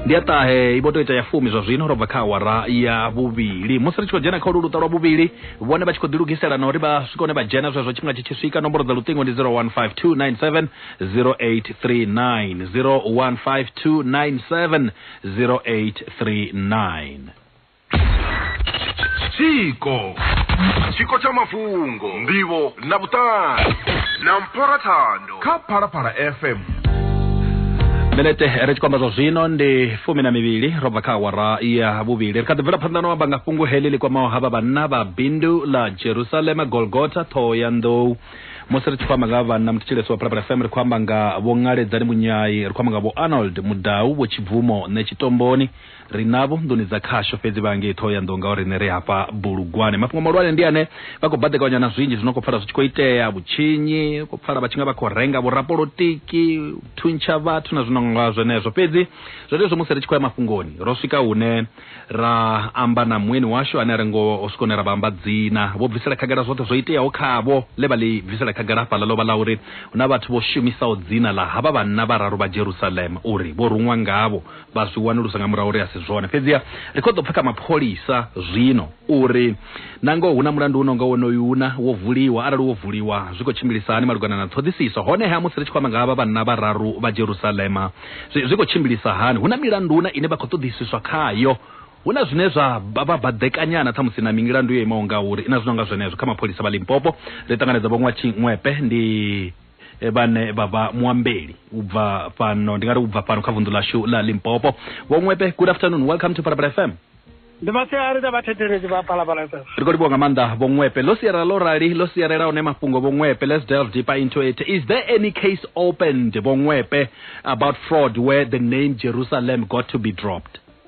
Speaker 1: ndi ya ṱahe i vho tou ita ya fumi zwa zwino ro bva kha awara ya vhuvhili musi ri tshi khou dzhena kha ulu luṱa lwa vhuvhili vhone vha tshi khou ḓilugisela na uri vha swika hone vha dzhena zwezwo tshifhinga tshi tshi swika nomboro dza luṱingo ndi 0152970839 0152970839 tshiko tshiko tsha mafhungo ndivho na vhuṱali na mpora thando kha phalaphala fm minete ri tshi kwamba zwa zwino ndi fumi na mivhili ro bva kha awara ya vhuvhili ri kha ḓi bvela phanḓa no amba nga fhungo heḽi ḽi kwamaho ha vha vhanna vha bindu ḽa jerusalema golgota ṱhoho ya nḓou musi ri tshi khou amba nga vhanna mutshilesi wa phalaphala fm ri khou amba nga vho ṅaledzani munyai ri khou amba nga vho arnold mudau vho tshibvumo nṋe tshitomboni ri navho nḓuni dza khasho fhedzi vha ngei Thohoyandou ngauri riṋe ri hafha Bulugwane. Mafhungo mahulwane ndi ane vha khou baḓekanywa na zwinzhi zwi no khou pfala zwi tshi khou itea, vhutshinyi, u khou pfala vha tshi nga vha khou renga vhorapolotiki, u thuntsha vhathu na zwi no nga zwenezwo. Fhedzi zwenezwo musi ri tshi khou ya mafhungoni, ro swika hune ra amba na mueni washu ane a ri ngoho ho swika hune ra vha amba dzina. Vho bvisela khagala zwoṱhe zwo iteaho khavho. Ḽe vha ḽi bvisela khagala hafhaḽa ḽo vha ḽa uri hu na vhathu vho shumisaho dzina ḽa havha vhanna vhararu vha Jerusalema uri vho ruṅwa ngavho vha zwi wanulusa nga murahu uri a si zwone fhedziha ri khou ḓo pfha kha mapholisa zwino uri na ngoho hu na mulandu uno nga wonoyu una wo vuliwa arali wo vuliwa zwi khou tshimbilisa hani malugana na ṱhoḓisiso honeha musi ri tshi khou amba nga havha vhanna vhararu vha jerusalema zwi, zwi khou tshimbilisa hani hu na milandu una ine vha khou ṱoḓisiswa khayo hu na zwine zwa vha vha baḓekanyana ṱhamusi na milandu yo imaho nga uri na zwino nga zwenezwo kha mapholisa vha limpopo ri ṱanganedza vho ṅwa tshiṅwepe ndi e, vhane vha vha muambeli u bva fhano ndi nga ri u bva fhano kha vunḓu ḽashu ḽa limpopo vho ṅwepe good afternoon welcome to parabala fm ndi masiari dza vhathetheledzi vha palapala fm ri khou livhuwa nga maanḓa vho ṅwepe ḽo siarela ḽo rali ḽo siarela one mafhungo vho ṅwepe let's delve deeper into it is there any case opened vho ṅwepe about fraud where the name jerusalem got to be dropped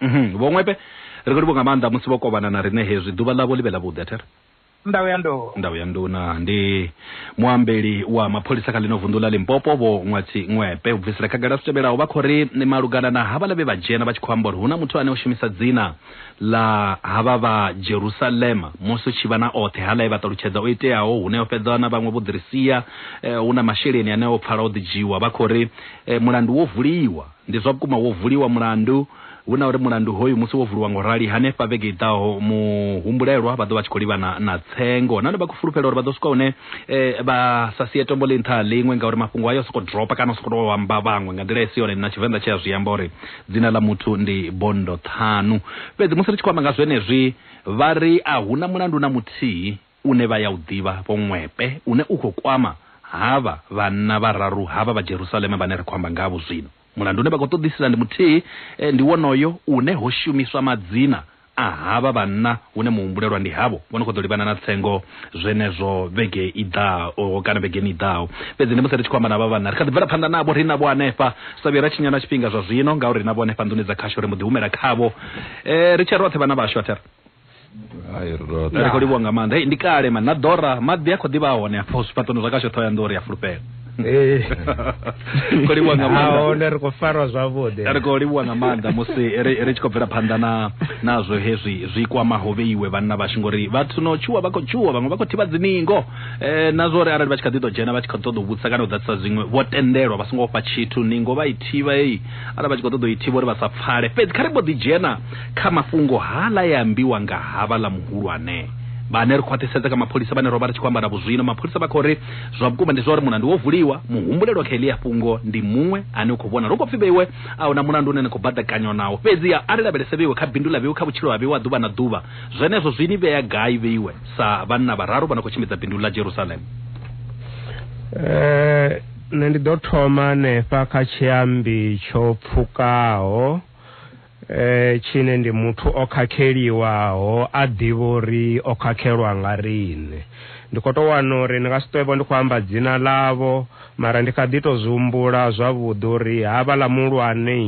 Speaker 1: Mhm. Vho Ṅwepe, ri khou livhuwa nga maanḓa musi vho kovhana na riṋe hezwi. Ḓuvha ḽavho ḽi vhe ḽavhuḓi, a thi ri? Ndau ya Ndou. Ndau ya Nduna ndi muambeli wa mapholisa kha ḽino vunḓu ḽa Limpopo, Vho Ṅwatsi Ṅwepe. U bvisela khagala zwi tevhelaho, vha khou ri malugana na havhaḽa vhe vha dzhena vha tshi khou amba uri hu na muthu ane o shumisa dzina ḽa havha vha Jerusalema musi hu tshi vha na oṱhe haḽa e vha ṱalutshedza o iteaho hune o fhedza na vhaṅwe vho ḓi ri sia, eh, hu na masheleni ane o pfala o ḓi dzhiwa. Vha khou ri eh, mulandu wo vuliwa. Ndi zwa vhukuma wo vuliwa mulandu. Hu na uri mulandu hoyu musi wo vuliwa nga u rali, hanefha vhege i ḓaho muhumbulelwa vha ḓo vha tshi khou livhana na tsengo nahone vha khou fulufhela uri vha ḓo swika hune vha sa sie tombo ḽi nṱha ha ḽiṅwe ngauri mafhungo ayo o sokou dropa kana o sokou tou amba vhaṅwe nga nḓila i si yone. Na Tshivenḓa tshi a zwi amba uri dzina ḽa muthu ndi bondo ṱhanu. Fhedzi musi ri tshi khou amba nga zwenezwi vha ri a hu na mulandu na muthihi. une vha ya u ḓivha vho ṅwepe, une u khou kwama havha vhanna vhararu havha vha Jerusalema vhane ri khou amba ngavho zwino. Mulandu une vha khou ṱoḓisisa ndi muthihi, ndi wonoyo une ho shumiswa madzina a havha vhanna hune muhumbulelwa ndi havho vho no khou ḓo livhana na tsengo zwenezwo vhege i ḓaho kana vhegeni i ḓaho. Fhedzi ndi musi ri tshi khou amba na havha vhanna, ri kha ḓi bvela phanḓa navho, ri navho hanefha. Sa vhuye ra tshinya na tshifhinga zwa zwino, ngauri ri navho hanefha nḓuni dza khasho, ri mbo ḓi humela khavho ri tshe roṱhe, vhana vhashu, a thi ri. ri khou livhuwa nga maanḓa ndi kale mani na ḓora maḓi a khou ḓivha a hone afho zwifhaṱoni zwa kasho ṱhoho ya nḓori ya fulufhela khou livhuwa nga maanḓa ri khou farwa zwavhuḓi ri khou livhuwa nga maanḓa musi ri tshi khou bvela phanḓa na nazwo hezwi zwi kwamaho vheiwe vhanna vhashu ngori vhathu no tshuwa vha khou tshuwa vhaṅwe vha khou thivha dziningo um na zwa uri arali vha tshi kha ḓi ḓo dzhena vha tshi khou ṱoḓa u vhudzisa kana u ḓadzisa zwiṅwe vho tendelwa vha songo fha tshithu ningo vha i thivha heyi arali vha tshi khou ṱoḓa u i thivha uri vha sa pfale fhedzi kha ri mbo ḓi dzhena Kha mafhungo haaḽa e ambiwa nga havhaḽa muhulwane vhane ri khwaṱhisedza kha mapholisa vhane ro vha ri tshi khou amba navho zwino, mapholisa vha khou ri zwa vhukuma ndi zwa uri mulandu wo vuliwa, muhumbulelwa kha heḽia fhungo ndi muṅwe ane u khou vhonala. Hu khou pfi vheiwe a hu na mulandu une na khou baḓekanywa nawo. Fhedziha a ri lavhelese vheiwe kha bindu ḽa vheiwe, kha vhutshilo ha vheiwe ha ḓuvha na ḓuvha. Zwenezwo zwi ni vhea gai vheiwe sa vhanna vhararu vha no khou tshimbidza bindu ḽa Jerusalema? Ee, nṋe ndi ḓo thoma hanefha kha tshiambi tsho pfukaho. Eh, tshine ndi muthu o khakheliwaho a ḓivha uri o khakhelwa nga riṋe. Ndi khou tou wana uri ndi nga si ṱwevho ndi khou amba dzina ḽavho, mara ndi kha ḓi tou zwi humbula zwavhuḓi uri havhaḽa muhulwane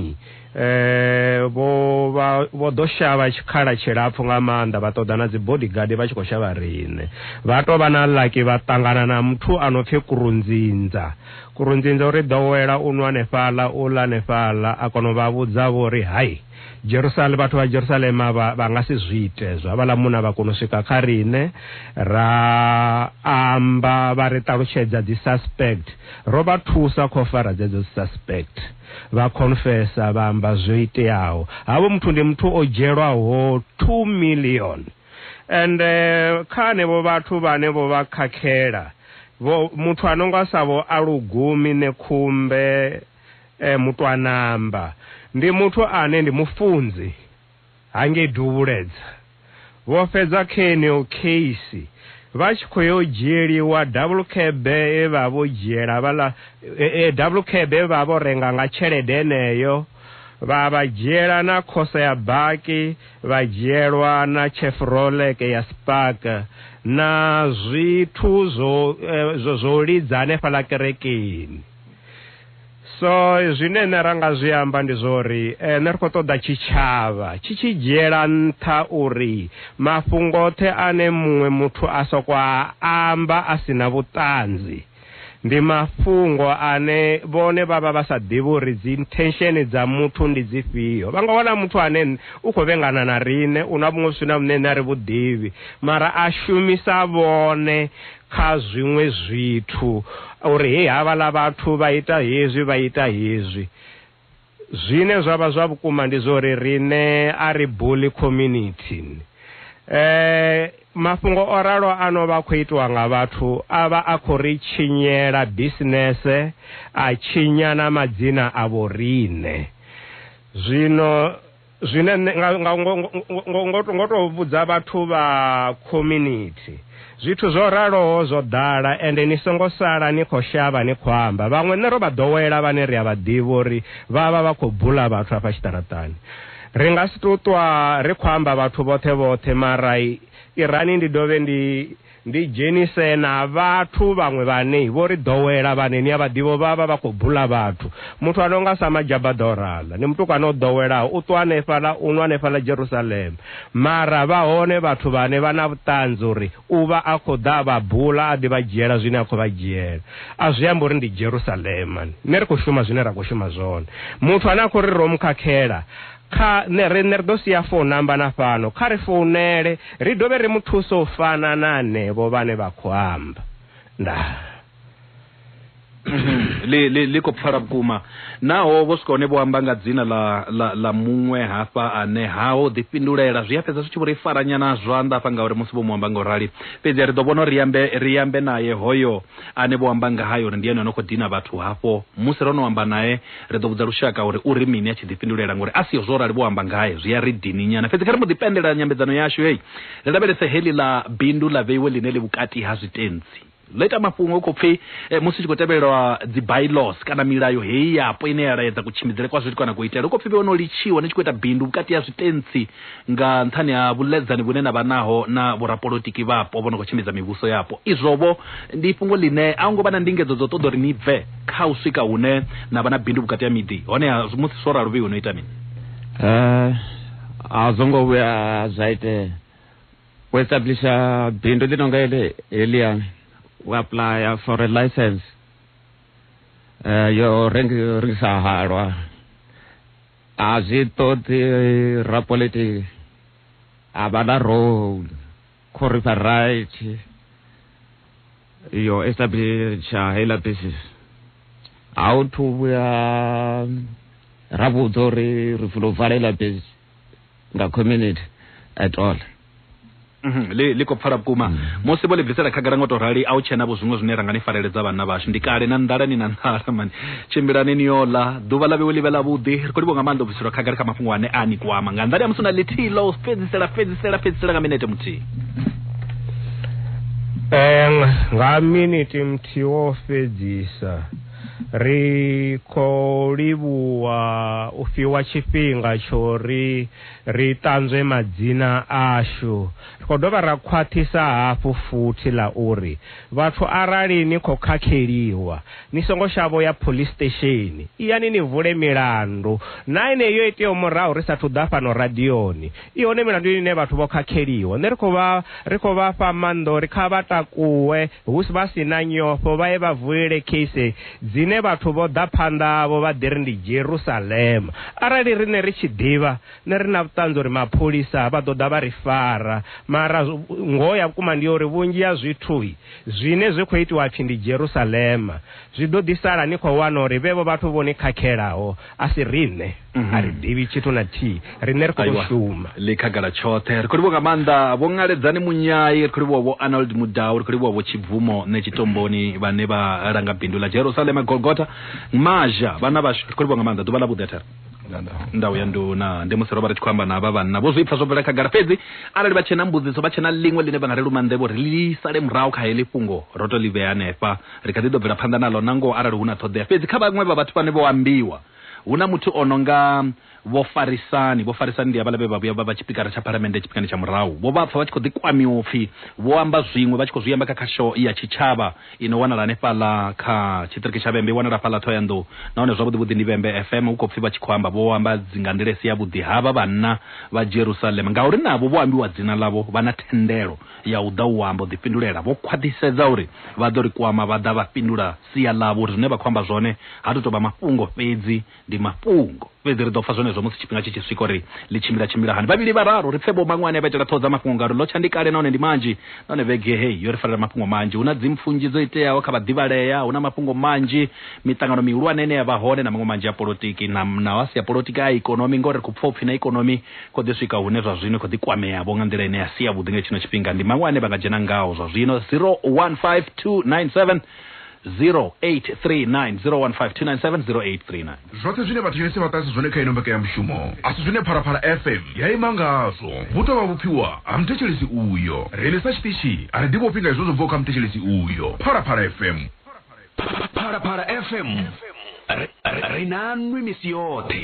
Speaker 1: eh, vho vha vho ḓo shavha tshikhala tshilapfu nga maanḓa vha ṱoḓa na dzi bodyguard vha tshi khou shavha riṋe. Vha tou vha na lucky vha ṱangana na muthu a no pfi Kurunzinza. Kurunzinza u ri ḓowela u nwa hanefhaḽa, u ḽa hanefhaḽa. A kona u vha vhudza vho ri, Hai, Jerusale, vhathu vha Jerusalema vha, vha nga si zwi ite hezwo. Havhaḽa munna vha kona u swika kha riṋe, ra amba, vha ri ṱalutshedza dzi suspect. Ro vha thusa kha u fara dzedzo dzi suspect. Vha khonfesa, vha amba zwo iteaho. Havho muthu ndi muthu o dzhielwaho two million. Ende kha anevho vhathu vhane vho vha khakhela, vho, muthu a no nga sa vho Alugumi Nekhumbe e, Mutwanamba, ndi muthu ane ndi mufunzi hangei Duvhuledza, vho fhedza kheneyo kheisi vha tshi khou yo dzhieliwa double cab ye vha vho dzhiela havhaḽa, e, e, double cab ye vha vho renga nga tshelede yeneyo, vha vha dzhiela na khosa ya baki, vha dzhielwa na tshefuroleke ya spark na zwithu zwo eh, zwo zwo lidza hanefhala kerekeni so zwine nṋe ra nga zwi amba ndi zwori eh, nṋe ri khou ṱoḓa tshitshavha tshi tshi dzhiela nṱha uri mafhungo oṱhe ane muṅwe muthu a soko a amba a si na vhuṱanzi Ndi mafhungo ane vhone vha vha vha sa ḓivhi uri dzinthensheni dza muthu ndi dzifhio. Vha nga wana muthu ane u khou vhengana na riṋe, u na vhuṅwe vhuswina vhune riṋe a ri vhu ḓivhi, mara a shumisa vhone kha zwiṅwe zwithu uri, Hei, havhaḽa vhathu vha ita hezwi, vha ita hezwi. Zwine zwa vha zwa vhukuma ndi zwa uri riṋe a ri buli community. Mafhungo o ralo a no vha a khou itiwa nga vhathu a vha a khou ri tshinyela bisinese, a tshinya na madzina a vhoriṋe. Zwino. Zwine nṋe nga, nga, ngo, ngo, ngo, ngo tou vhudza vhathu vha community zwithu zwo raloho zwo ḓala ende ni songo sala ni khou shavha ni khou amba vhaṅwe nṋe ro vha ḓowela vhane ri a vha ḓivha uri vha vha vha khou bula vhathu afha tshiṱaraṱani ri nga si tou ṱwa ri khou amba vhathu vhoṱhe vhoṱhe mara irani ndi dovhe ndi Ndi dzhenise na vhathu vhaṅwe vhane vho ri ḓowela vhane ni a vha ḓivha vha vha vha khou bula vhathu. Muthu a no nga sa Majabada o rala, ndi mutukana o ḓowelaho, u ṱwa hanefhaḽa, u nwa hanefhaḽa Jerusalema. Mara vha hone vhathu vhane vha na vhuṱanzi uri u vha a khou ḓa a vha bula a ḓi vha dzhiela zwine a khou vha dzhiela. A zwi ambi uri ndi Jerusalema. Nṋe ri khou shuma zwine ra khou shuma zwone. Muthu ane a khou ri ro mu khakhela, Kha nṋe riṋe ri ḓo sia founu namba na fhano, kha ri founele ri dovhe ri mu thuse u fana na henevho vhane vha khou amba. Ndaa. ḽi, ḽi, ḽi khou pfala vhukuma. Naho vho swika hone vho amba nga dzina ḽa, ḽa, ḽa muṅwe hafha ane ha ho ḓifhindulela, zwi a fhedza zwi tshi vho ri fara nyana zwanḓa hafha ngauri musi vho mu amba nga u rali. Fhedzi ri ḓo vhona uri ri ambe, ri ambe nae hoyo ane vho amba ngahae uri ndi ene o no khou dina vhathu hafho. Musi ro no amba nae, Ri ḓo vhudza lushaka uri u ri mini a tshi ḓifhindulela ngori a siho zwo rali vho amba ngae zwi a ri dininyana. Fhedzi kha ri mbo ḓi pendela nyambedzano yashu heyi ri lavhelese heḽi ḽa bindu ḽa vheiwe ḽine ḽi vhukati ha zwitentsi ḽo ita mafhungo hu khou pfi eh, musi tshi khou tevhelwa dzi bylaws kana milayo heyi yapo ine ya laedza kutshimbidzele kwa zwithu kana kuitele hu khou pfi vhe ono litshiwa ni tshi khou ita bindu vhukati ha zwitentsi Nga nṱhani ha vhuḽedzani vhune na vha naho na vhorapolotiki vhapo vho no khou tshimbidza mivhuso yapo, izwo-vho ndi fhungo ḽine a hu ngo vha na ndingedzo dza u ṱoḓa uri ni bve kha u swika hune na vha na bindu vhukati ha miḓi. Honeha, musi zwo ralo vheiwe no ita mini? A zwo ngo vhuya zwa itea. U establisha bindu ḽi no nga heḽi, heḽia, u apuḽaya for a licence ya u rengisa halwa, a zwi ṱoḓi rapolitiki a vha na role khori variety yo establisha heiḽa basis a u thu vhuya ra vhudza uri ri funa u vala heiḽa basis nga community at all mhm, ḽi ḽi khou pfala vhukuma mm. musi vho ḽi bvisela khagala ngo to rali a u tshena vho zwiṅwe zwine ra nga ni fareledza vhanna vhashu ndi kale na nḓala ni na nḓala mani tshimbilani ni yo ḽa ḓuvha ḽa vhewe ḽi vhe ḽa vhuḓi ri khou livho nga maanḓa u bviselwa khagala kha mafhungo ane a ni kwama nga nḓani ya musi na ḽithihi ḽa u fhedzisela fhedzisela fhedzisela nga minete muthihi um nga minete muthihi wo fhedzisa Ri khou livhuwa u fhiwa tshifhinga tsho ri ri ṱanzwe madzina ashu. Ri khou dovha ra khwaṱhisa hafhu futhi ḽa uri vhathu arali ni khou khakheliwa, ni songo shavha u ya phoḽisi sitesheni. Iyani ni vule milandu na enei yo iteaho murahu ri sa athu ḓa fhano radioni. I hone milandu ine vhathu vho khakheliwa. Nṋe ri khou vha ri khou vha fha maanḓa uri kha vha takuwe hu vha si na nyofho vha ye vha vulele case dzine vhathu vho ḓa phanḓa havho vha ḓi ri ndi Jerusalema. Arali riṋe ri tshi ḓivha, nṋe ri na vhuṱanzi uri mapholisa vha ḓo ḓa vha ri fara. Mara ngoho ya vhukuma ndi ya uri vhunzhi ha zwithu zwine zwi khou itiwa hapfi ndi Jerusalema zwi ḓo ḓi sala ni khou wana uri vhevho vhathu vho ni khakhelaho a si riṋe mhm. a ri ḓivhi tshithu na thihi riṋe ri khou shuma ḽi khagala tshoṱhe ri khou livhuwa nga maanḓa vho ngaledzani munyai ri khou livhuwa vho arnold mudau ri khou livhuwa vho tshibvumo nṋe tshitomboni vhane vha langa bindu ḽa jerusalema golgota mazha vhana vhashu ri khou livhuwa nga maanḓa ḓuvha ḽa vhuḓi athera ndau ya nduna ndi musi ro vha ri tshi khou amba na vha vhanna vho zwi pfa zwo bvela khagala fhedzi arali vha tshena mbudziso vha tshena ḽiṅwe ḽine vha nga ri lumanḓevho ri ḽi sale murahu kha heḽi fhungo ro to ḽi vhea hanefha Ri kha ḓi ḓo bvela phanḓa naḽo na ngoho arali hu na ṱhoḓea. Fhedzi kha vhaṅwe vha vhathu vhane vho ambiwa, hu na muthu o no nga Vho Farisani. Vho Farisani ndi havhala vhe vha vhuya vha vha tshipikara tsha phalamennde tshifhingani tsha murahu. Vho vha pfa vha tshi khou ḓi kwamiwa u pfi vho amba zwiṅwe, vha tshi khou zwi amba kha khasho ya tshitshavha i no wanala hanefhaḽa kha tshiṱiriki tsha Vhembe. I wanala hafhaḽa Thohoyandou nahone zwavhuḓi-vhuḓi ndi Vhembe FM. Hu khou pfi vha tshi khou amba vho amba dzi nga nḓila i si yavhuḓi, havha vhanna vha Jerusalema, ngauri navho vho ambiwa dzina ḽavho vha na thendelo ya u ḓa u amba u ḓifhindulela. Vho khwaṱhisedza uri vha ḓo ri kwama vha ḓa vha fhindula sia ḽavho uri zwine vha khou amba zwone ha tu tou vha mafhungo fhedzi, ndi mafhungo. Fhedzi ri ḓo pfa zwenezwo musi tshifhinga tshi tshi swika uri ḽi tshimbila tshimbila hani. Vhavhili vhararu ri pfe Vho Maṅwane vha itela ṱhoho dza mafhungo ngauri ḽo tsha ndi kale nahone ndi manzhi nahone vhege heyi yo ri farela mafhungo manzhi. Hu na dzimpfu nnzhi dzo iteaho kha vhaḓivhalea, hu na mafhungo manzhi, miṱangano mihulwane ine ya vha hone na maṅwe manzhi a polotiki na naho a si a polotiki a ikonomi ngauri ri khou pfa u pfi na ikonomi Khou ḓi swika hune zwa zwino i khou ḓi kwamea-vho nga nḓila ine ya si yavhuḓi nga tshino tshifhinga. Ndi maṅwe ane vha nga dzhena ngao zwa zwino, 015297 0839 015297 0839. Zwoṱhe zwine vhathetshelesi vha ṱahisa zwone kha ino mbekanyamushumo a si zwine Phalaphala FM ya ima ngazwo. Vhu tou vha vhupfiwa ha muthetshelesi uyo. Riṋe sa tshiṱitshi a ri ḓivhofhi nga hezwo zwo bvaho kha muthetshelesi uyo. Phalaphala FM. phalaphala fm ri- ri- ri nanwi misi yoṱhe